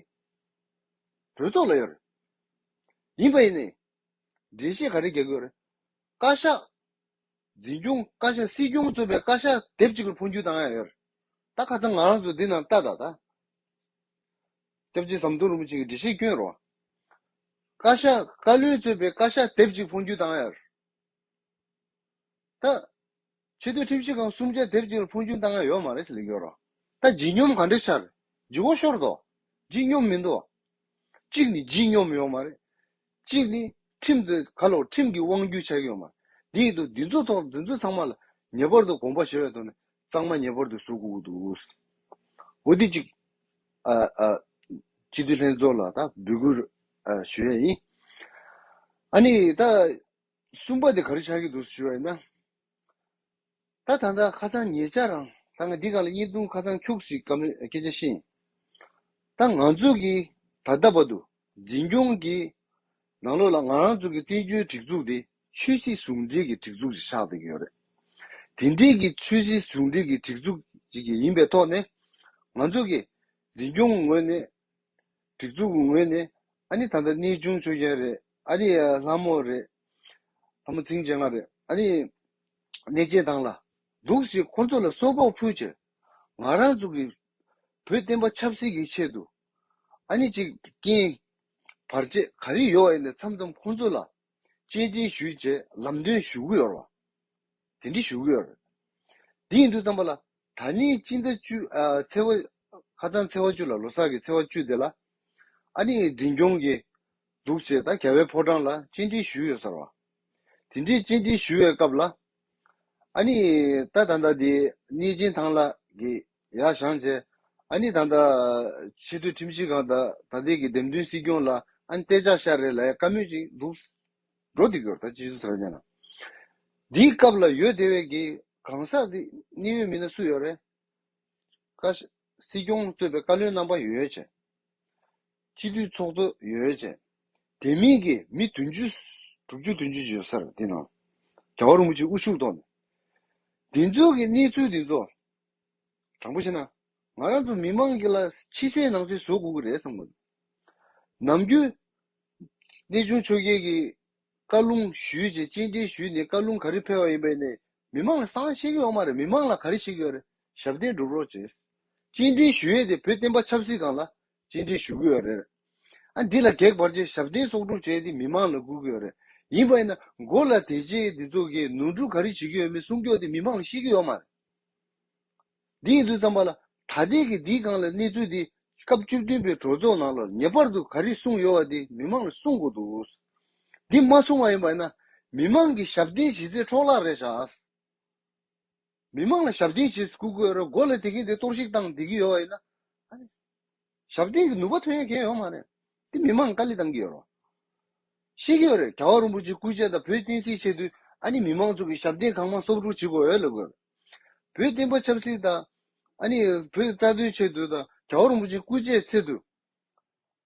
གྲོས་ཚོགས་ལ་ཡོད་རེད། ཡིན་པ་ཡིན་ནའི་འགྲེལ་བཤད་ག་རེ་རྒྱག་གི་ཡོད་རེད། བཀའ་ཤག་འཛིན་སྐྱོང་བཀའ་ཤག་སྲིད་སྐྱོང་གཙོས་པའི་བཀའ་ཤག་སྡེབ་གཅིག་ལ་འཕོ་འགྱུར་བཏང་ཡ་ཡོད། ད་ཁ་ཚང་ང་རང་ཚོ་འདི་ནང་ལྟ་ད་ད། སྐྱབས་རྗེ་ཟམ་གདོང་རིན་པོ་ཆེ་གི་འགྲེལ་བཤད་བསྐྱོན་རོགས། བཀའ་ཤག་བཀའ་བློན་གཙོས་པའི་བཀའ་ཤག་སྡེབ་གཅིག་འཕོ་འགྱུར་བཏང་ཡ་ཡོད། ད། ཆེ་བསྟོད་ཁྲིམས་ཞིབ་ཁང་གསུམ་ཆ་སྡེབ་གཅིག་ལ་འཕོ་འགྱུར་བཏང་ཡ་ཡོད་མ་རེད་ལེགས་ཡོད་རོགས། ད་བརྗིད་སྙོམས་ག་འདྲས་ཤར། བརྗིད་བོ་ཤོར་འདུག། བརྗིད་སྙོམས་མི་འདུག། གཅིག་ནི་བརྗིད་སྙོམས་ཡོད་མ་རེད། གཅིག་ནི། ཁྲིམས་དེ་ག་ལ་བ་ཁྲིམས་ཀྱི་དབང་བསྒྱུར་བྱ་གི་ཡོད་མ་རེད། འདི་ཡི་དུ་འདི་ཚོ་ཐོག་འདི་ཚོ་ཚང་མ་ལ་ཉེ་པར་དུ་དགོངས་པ་བཞེས་བའི་ཐོག་ནས་གཙང་མ་ཉེ་བར་དུ་བཟོ་དགོས་ཀྱི་འདུག། འོ་དེ་གཅིག། སྤྱི་འཐུས་ལྷན་ཚོགས་ལ་ད་འབོད་སྐུལ་ཞུ་ཡས་ཡིན། ཨ་ནི་ད་གསུམ་པ་དེ་ག་རེ་བྱ་གི་འདུག་ཞུ་བ་ཡིན་ན། ད་ད་ད་ཁ་སང་ཉེ་ཆར་རང་ད་ང་འདི་ག་ལ་གཉིས་བརྡུང་ཁ་སང་ཁྱུགས་ཤིག་གམ་སྐད་ཆ་ཤེས། ད་ང་ཚོ་གི་ད་ལྟ་བར་དུ་འཛིན་སྐྱོང་གི་ནང་ལོགས་ལ་ང་རང་ཚོ་གི་བཙན་བྱོལ་སྒྲིག་འཛུགས་དེ་ཆོས་སྲིད་ཟུང་འབྲེལ་གྱི་སྒྲིག་འཛུགས་ཤིག་ཆགས་བསྡད་ཀྱི་ཡོད་རེད། དེ་འབྲེལ་གྱི་ཆོས་སྲིད་ཟུང་འབྲེལ་གྱི་སྒྲིག་འཛུགས་ཅིག་ཡིན་པའི་ཐོག་ནས་ང་ཚོ་གི་འཛིན་སྐྱོང་ངོས་ནས་སྒྲིག་འཛུགས་ཀྱི་ངོས་ནས་ཨ་ནི་ད་ལྟ་གནས་ཆུང་ཆོས་རྒྱལ་རེད་ཨ་ནི་ལྷ་མོ་རེད་ལྷ་མོ་ཚིང་ཆེ་ང་རེད་ཨ་ནི་གནས་སྐྱེལ་དང་ལ་འདུག་ཞེས་ཁོ་ཚོ་ལ་སོ་ཕོག་ཕུལ་ཕྱིར་ང་རང་ཚོ་གིས་བོད་བསྟན་པ་ཆབ་སྲིད་ཀྱི་ཆེད་དུ་ཨ་ནི་གཅིག་རྐྱེན་བར་ཆད་ག་རེ་ཡོད་བ་ཡིན་ནས་མཚམས་མཚམས་ཁོ་ཚོ་ལ་གཅེས་འདྲིན་ཞུས་རྗེས་ལམ་སྟོན་ཞུ་གི་ཡོད་ལ། དེ་འདྲི་ཞུ་གི་ཡོད། དེ་ཡིན་དུས་བསམ་པ་ལ། ད་ནི་སྤྱི་ཟླ་བཅུ། ཚེས་བ། ཁ་ཚང་ཚེས་བ་བཅུ་ལ་ལོ་སར་གི་ཚེས་བ་བཅུ་དེ་ལ། ཨ་ནི་འཛིན་སྐྱོང་གི། འདུག་ཅེས་ད་ག་བའི་ཕོ་བྲང་ལ་སྤྱི་འདྲི་ཞུས་ཡོད་ཟེར་བ། དེ་འདྲི་སྤྱི་འདྲི་ཞུ་བའི་སྐབས་ལ། ཨ་ནི། ད་ད་ལྟ་དེ་ནི་ཅིན་ཐང་ལ་གི། ཡ་ཞང་ཅེས། ཨ་ནི་ད་ལྟ། ཆེས་མཐོའི་ཁྲིམས་ཞིབ་ཁང་ད་ད་ལྟའི་གི་འདེམས་ཐོན་སྲིད་སྐྱོང་ལ་ཨ་ནི་སྟེ་ཅག་ཤ་རེ་ལ་ཡ་དཀའ་མོད་ཅིག་འདུག། འགྲོ་འདི་སྐྱོར་དང་སྤྱི་ཚོགས་དོན་རྐྱེན་དང། འདིའི་སྐབས་ལ་ཡོད་དེ་བས་ཀྱི་གང་ཟག་འདི་གནས་ཡུལ་མིན་ན་སུ་ཡོད་རེད། ཀ། སྲིད་སྐྱོང་གཙོས་པའི་བཀའ་བློན་རྣམ་པ་ཡོད་ཅེས། སྤྱི་འཐུས་ཚོགས་གཙོ་ཡོད་ཅེས། དེ་མིན་གྱི་མི་བདུན་ཅུ། དྲུག་ཅུ་བདུན་ཅུ་ཞིག་ཡོད་ས་རེད་དེའི་ནང། རྒྱ་བ་རིན་པོ་ཆེ་དབུ་བཞུགས་ཐོག་ནས། འདི་ཚོའི་གནས་ཚུལ་འདི་ཚོ། དྲང་པོ་བཤད་ན། ང་རང་ཚོ་མི་མང་གི་ལ་ཕྱི་གསལ་ནང་གསལ་བཟོ་དགོས་ཀྱི་རེད་བསམ་གི་འདུག་ནམ་རྒྱུན། གནས་ཆུང་ཆོས་རྒྱལ་གྱིས་བཀའ་ལུང་ཞུས་ཅེས་སྤྱན་འདྲེན་ཞུས་ནས་བཀའ་ལུང་ག་རེ་ཕེལ་བ་ཡིན་པས་ནས་མི་མང་ལ་གསང་བཤད་ཀྱི་འོག་མ་རེད་མི་མང་ལ་ག་རེ་བཤད་ཀྱི་ཡོད་རེད་ཞབས་བརྟན་སྒྲུབ་རོགས་ཅེས། སྤྱན་འདྲེན་ཞུ་ཡས་དེ་བོད་བསྟན་པ་ཆབ་སྲིད་སྒང་ལ་སྤྱན་འདྲེན་ཞུ་གི་ཡོད་རེད། ཨ་འདི་ལ་གེགས་བར་ཆད་ཞབས་བརྟན་གསོག་སྒྲུབ་བྱས་ཏེ་མི་མང་ལ་སྒུག་གི་ཡོད་རེད་ཡིན་པས་ན་མགོ་ལ་དེ་རྗེས་འདི་ཚོ་གིས་ནོར་འཁྲུལ་ག་རེ་བྱེད་ཀྱི་ཡོད་མེད་སྲུང་སྐྱོབ་དེ་མི་མང་ལ་ཤེས་ཀྱི་ཡོད་མ་རེད། འདི་ཡིན་དུས་བརྩམས་པ་ལ་ད་ལྟའི་གི་འདིའི་སྒང་ལ་གནས་ཚུལ་འདི་སྐབས་བཅུ་བདུན་པའི་གྲོས་ཚོགས་ནང་ལ་ངེས་པར་དུ་ག་རེ་གསུངས་ཡོད་བ་དེ་མི་མང་ལ་གསུངས་དགོས་འདུག་འདི་མ་གསུངས་བ་ཡིན་པ་ཡིན་ན་མི་མང་གི་ཞབས་བརྟན་བྱེད་ཚད་འཕྲོག་བརླག་རེད་ཤག་མི་མང་ལ་ཞབས་བརྟན་བྱེད་སྐུ་གོས་ར་མགོ་ལ་དེ་གིན་དེ་གཏོར་བཤིག་བཏང་བསྡད་ཀྱི་ཡོད་བ་ཡིན་ན། ཞབས་འདེགས་ཀྱི་ནུས་པ་ཐོན་ཡ་མཁན་ཡོད་མ་རེད། དེ་མི་མང་དཀའ་ལས་གཏང་གི་ཡོད་རོ། ཤེས་ཀྱི་ཡོད་རེད་ག་བ་རིན་པོ་ཆེ་སྐུ་ཆེ་དང་བོད་བསྟན་སྲིད་ཆེད་དུས་ཨ་ནི་མི་མང་ཚོ་གི་ཞབས་འདེགས་གང་མང་གསོབ་རུག་བྱེད་དགོས་ཡོད་ལ་དགོས་རེད། བོད་བསྟན་པ་ཆབ་སྲིད་དང། ཨ་ནི་བོད་རྩ་དོན་ཆེད་དུ་དང་ག་བ་རིན་པོ་ཆེ་སྐུ་ཆེ་ཚེ་དུས་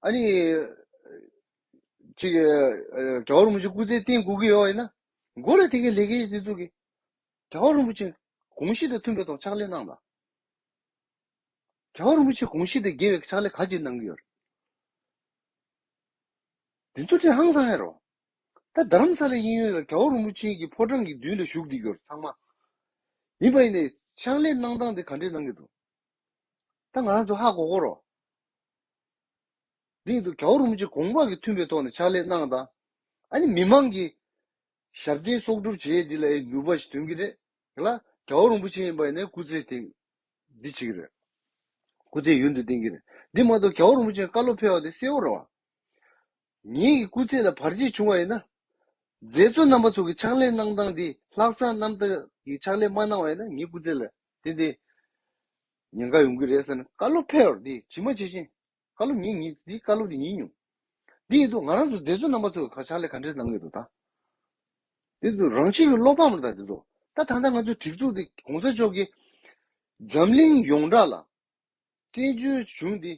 ཨ་ནི། ཅིག། ག་བ་རིན་པོ་ཆེ་སྐུ་ཚེ་བརྟན་དགོས་ཀྱི་ཡོད་ཡིན་ན། འགོ་རེད་དེ་གའི་ལས་ཀའི་དེ་ཚོ་གི། ག་བ་རིན་པོ་ཆེ་དགོངས་གཞི་དང་མཐུན་པའི་ཐོག་ཕྱག་ལས་གནང་དང། རྒྱལ་བ་རིན་པོ་ཆེ་དགོངས་བཞེས་དེ་དགེ་བའི་ཕྱག་ལས་ག་ཅིག་གནང་གི་ཡོད། དེ་ཚོ་དྲན་ཧང་སང་ཧེ་རོ། ད་རྡ་རམ་ས་ལའི་དབྱིན་ཡུལ་ལ་རྒྱལ་བ་རིན་པོ་ཆེན་གྱི་ཕོ་བྲང་གི་མདུན་ལ་བཞུགས་བསྡད་གྱུར་ཚང་མ། ཡིན་པ་ཡིན་ནའི་ཕྱག་ལས་གནང་སྟངས་དེ་ག་འདྲས་གནང་གི་འདུག་ད་ང་རང་ཚོ་ཧ་གོ་གོ་རོགས། དེ་ཡིན་དུ་རྒྱལ་བ་རིན་པོ་ཆེ་དགོངས་པ་གི་མཐུན་པའི་ཐོག་ནས་ཕྱག་ལས་གནང་དང། ཨ་ནི་མི་མང་གི་ཞབས་བརྟན་གསོག་སྒྲུབ་བྱེད་འདི་ལ་ནུས་པ་ཞིག་འདོན་གྱི་རེད་ལ། དགྲ་བོ་རིན་པོ་ཆེ་ཡིན་པ་ནི་སྐུ་ཚེ་ཐེངས་འདི་གཅིག་རེད། སྐུ་ཚེ་ཡུན་དུ་བརྟན་གྱི་རེད། འདི་མ་གཏོགས་དགྲ་བོ་རིན་པོ་ཆེ་བཀའ་སློབ་ཕེལ་བ་དེ་གསལ་བོ་རེད་བ། ངེད་ཀྱི་སྐུ་ཚེ་ལ་བར་ཆད་བྱུང་བ་ཡིན་ན། མཛད་གཙོ་རྣམ་པ་ཚོ་གི་ཕྱག་ལས་གནང་སྟངས་འདི་ལྷག་བསམ་རྣམ་དག་གིས་ཕྱག་ལས་མ་གནང་བ་ཡིན་ན་ངེད་སྐུ་ཚེ་ལ་དེ་འདི་ཉེན་ཁ་ཡོང་གི་རེད་ཟེར་ན་བཀའ་སློབ་ཕེལ་བར་འདི་ཇི་མ་ཇི་བཞིན་བཀའ་སློབ་ཉིན་གཉིས་འདི་བཀའ་སློབ་དེ་ཉིན་ཉུང། འདི་ཡིན་དུ་ང་རང་ཚོ་མཛད་བཟོ་རྣམ་པ་ཚོས་ཕྱག་ལས་ག་འདྲས་གནང་ཡོད་དོ་ད། དེ་ཚོ་རང་ཕྱི་གི་བློ་ཕམ་ལ་ད་དེ་ཚོ། ད་ད་ལྟ་ང་ཚོའི་སྒྲིག་འཛུགས་འདི་གོང་ས་མཆོག་གིས། འཛམ་གླིང་ཡོངས་གྲགས་ལ། བཙན་བྱོལ་གཞུང་འདི་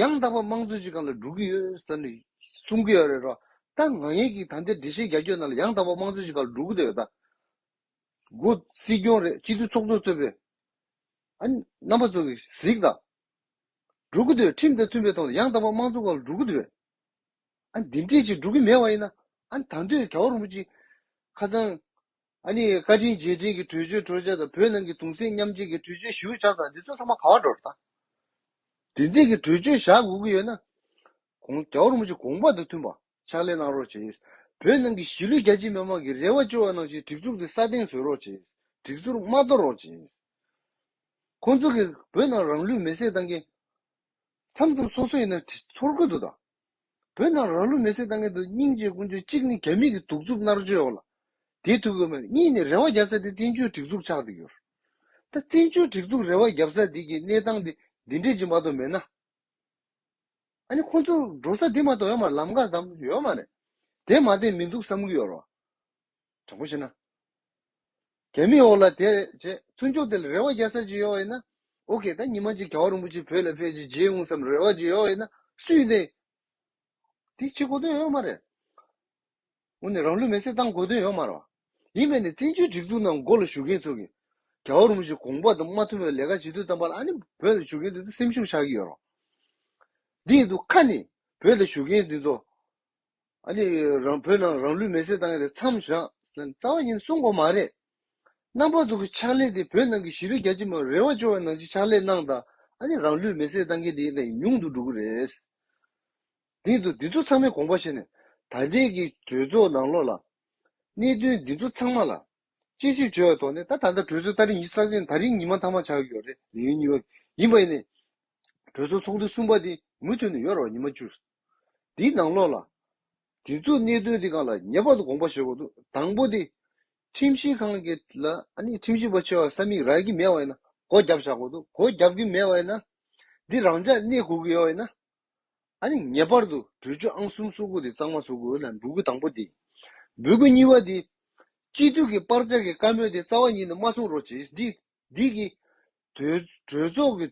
ཡང་དག་པ་དམངས་གཙོའི་སྤྱི་ཁང་ལ་འགྲོ་གི་ཡོད་ས་ནས་གསུང་གི་ཡོད་རེད་རོ། ད་ང་ཡིན་གྱི་ད་འདིར་འགྲེལ་བཤད་རྒྱ་ཁྱོད་རྣམས་ལ་ཡང་དག་པ་དམངས་གཙོའི་སྤྱི་ཁང་ལ་འགྲོ་གི་ད་ཡོད་ད། སྒོ་སྲིད་སྐྱོང་རེད་སྤྱི་འཐུས་ཚོགས་གཙོ་གཙོས་པའི། ཨ་རྣམ་པ་ཚོ་གིས་གཟིགས་ད། འགྲོ་གི་འདུག་ཁྲིམས་དང་མཐུན་པའི་ཐོག་ནས་ཡང་དག་པར་དམངས་གཙོ་བ་ལ་འགྲོ་གི་འདུག་བས། ཨ་ནི་འདི་འདྲས་ཅིག་འགྲོ་གི་མེད་བ་ཡིན་ན། ཨ་ནི་ད་འདོད་གྲྭ་བ་རིན་པོ་ཆེ་ཁ་ཚང། ཨ་ནི་བཀའ་དྲིན་རྗེས་དྲན་གྱི་གྲོས་ཆོད་གྲོས་འཆར་དང་བོད་ནང་གི་དུང་སེམས་མཉམ་བསྐྱེད་ཀྱི་གྲོས་ཆོད་ཞུ་བྱ་ཚང་འདི་ཚོ་ཚང་མ་ག་བ་འགྲོ་རུ་དང། དུས་མཚན་གྱི་གྲོས་ཆོད་བཞག་དགོས་ཀྱི་ཡོད་ན། གོང་གྲྭ་བ་རིན་པོ་ཆེ་དགོངས་པ་དང་མཐུན་པར་ཕྱག་ལས་གནང་རོགས་བྱེད། བོད་ནང་གི་གཞིས་ལུས་རྒྱ་ཆེའི་མི་དམངས་ཀྱི་རེ་བ་བཅོལ་བ་གནང་ཕྱིར་སྒྲིག་འཛུགས་འདི་སྲ་བརྟན་བཟོས་རོགས་བྱེད། སྒྲིག་འཛུགས་མ་དོར་རོགས་བྱེད། ཁོང་ཚོ་གིས་བོད་ནང་རང་ལུས་མེར་སྲེག་བཏང་མཁན། མཚམས་མཚམས་སོ་སོ་ཡིན་ན་ཚོར་དགོས་འདུག་ད། བོད་ནང་རང་ལུས་མེར་སྲེག་བཏང་མཁན་དུ་སྙིང་རྗེའི་ཀུན་སྤྱོད་གཅིག་ནི་རྒྱ་མིས་ཀྱི་གདུག་རྩུབ་མནར་གཅོད་འོག་ལ་དེད་ཐུབ་ཀྱི་མེད་གཉིས་ནི་རེ་བ་བརྒྱབ་ས་དེ་བཙན་བྱོལ་སྒྲིག་འཛུགས་ཆགས་འདི་གྱུར་ད་བཙན་བྱོལ་སྒྲིག་འཛུགས་རེ་བ་བརྒྱབ་ས་འདི་གྱི་གནས་སྟངས་འདི་འདི་འདྲས་ཀྱི་མ་གཏོགས་མེད་ན། ཨ་ནི་ཁོང་ཚོ་འགྲོ་ས་འདི་མ་གཏོགས་ཡོད་མ་རེད་ལམ་ཀ་ཙམ་ཡོད་མ་རེད་དེ་མ་བསྟན་མི་འདུག་བསམ་གྱི་ཡོད་རོ། དྲང་པོ་བྱས་ན། དེ་མིན་འོག་ལ་དེ་བྱས་མཐུན་ཕྱོགས་དེ་ལ་རེ་བ་རྒྱལ་ས་ཅིག་ཡོད་ན། ཨོ་ཁེ་ད་ཉི་མ་གཅིག་གའུ་རིན་པོ་ཆེ་བོད་ལ་ཕེབས་རྗེས་རྗེས་འོངས་སམ་རེ་བ་ཅིག་ཡོད་ན་སུས་བདེན། དེ་བྱེད་དགོས་དོན་ཡོད་མ་རེད། འོ་ནི་རང་ལུས་མེར་སྲེག་བཏང་དགོས་དོན་ཡོད་མ་རེད། ཡིན་པས་ནི་བཙན་བྱོལ་སྒྲིག་འཛུགས་ནང་མགོ་ལ་བཞུགས་མཁན་ཚོ་གིས། གའུ་རིན་པོ་ཆེ་དགོངས་པ་དང་མ་མཐུན་པའི་ལས་ཀ་བྱེད་དུས་ཙམ་པ་ལ་ཨ་ནི་བོད་ལ་བཞུགས་མཁན་དེ་ཚོ་སེམས་ཤུགས་ཆགས་ཀྱི་ཡོད་རོགས། འདི་ཡིན་དུ་ཁ་ནི་བོད་ལ་བཞུགས་མཁན་དེ་ཚོ། ཨ་ནི་རང་བོད་ནང་རང་ལུས་མེ་བསྲེགས་བཏང་ཡས་རེད་མཚམས་བཞག་ཟེར་ནས་རྩ་བ་ཉིད་ནས་གསུངས་དགོས་མ་རེད། རྣམ་པ་ཚོ་གི་ཕྱག་ལས་དེ་བོད་ནང་གི་གཞི་རིགས་རྒྱ་ཆེ་མ་རེད་བ་བཅོ་བའི་ནང་ཆེ་ཕྱག་ལས་གནང་དང་ཨ་ནི་རང་ལུས་མེ་བསྲེགས་བཏང་མཁན་དེ་ནས་ཉུང་དུ་འགྲོ་གི་རེད། དེ་ཚོ་འདི་ཚོ་ཚང་མའི་དགོངས་པ་བཞིན་ནས་ད་ལྟའི་གི་གྲོས་ཚོགས་ནང་ལོགས་ལ། གནད་དོན་འདི་ཚོ་ཚང་མ་ལ་དཔྱད་ཞིབ་བྱོས་བའི་ཐོག་ནས་ད་ད་ལྟ་གྲོས་ཚོགས་ད་རིང་ཉི་གསར་ཅན་ད་རིང་ཉི་མ་མཐའ་མ་ཆགས་ཀྱི་ཡོད་རེད་ལེ་ཡིན་གཉིས་པ་ཡིན་པ་ཡིན་ནས་གྲོས་ཚོགས་ཚོགས་འདུ་གསུམ་པ་དེ་མུ་མཐུད་ནས་ཡོ་ར་བ་ཉི་མ་བཅུ། འདིའི་ནང་ལོགས་ལ། སྒྲིག་འཛུགས་གནད་དོན་དེ་ག་ལ་ངེས་པར་དུ་དགོངས་པ་བཞེས་དགོས་འདུག་དང་པོ་དེ། ཁྲིམས་ཞིབ་ཁང་གི་ལ་ནི་ཁྲིམས་ཞིབ་པ་ཆེ་བ་ས་མིག་རག་གི་མེད་བ་ཡིན་ན་སྒོ་རྒྱབ་བཞག་དགོས་འདུག་སྒོ་རྒྱབ་ཀྱི་མེད་བ་ཡིན་ན། འདི་རང་འཇགས་གནས་དགོས་ཀྱི་ཡོད་བ་ཡིན་ན། ཨ་ནི་ངེས་པར་དུ་གྲོས་ཆོད་ཨང་གསུམ་བསུ་དགོས་དེ་གཙང་མ་བཟོ་དགོས་ལ་འབུལ་དགོས་དང་པོ་དེ། འབུལ་དགོས་གཉིས་པ་དེ། སྤྱི་འཐུས་ཀྱི་པར་ལྕག་གི་བཀའ་མོལ་དེ་རྩ་བ་ཉིད་ནས་མ་གསུང་རོགས་བྱེད་འདི་འདི་གིས། གྲོས་ཚོགས་ཀྱི་དུས།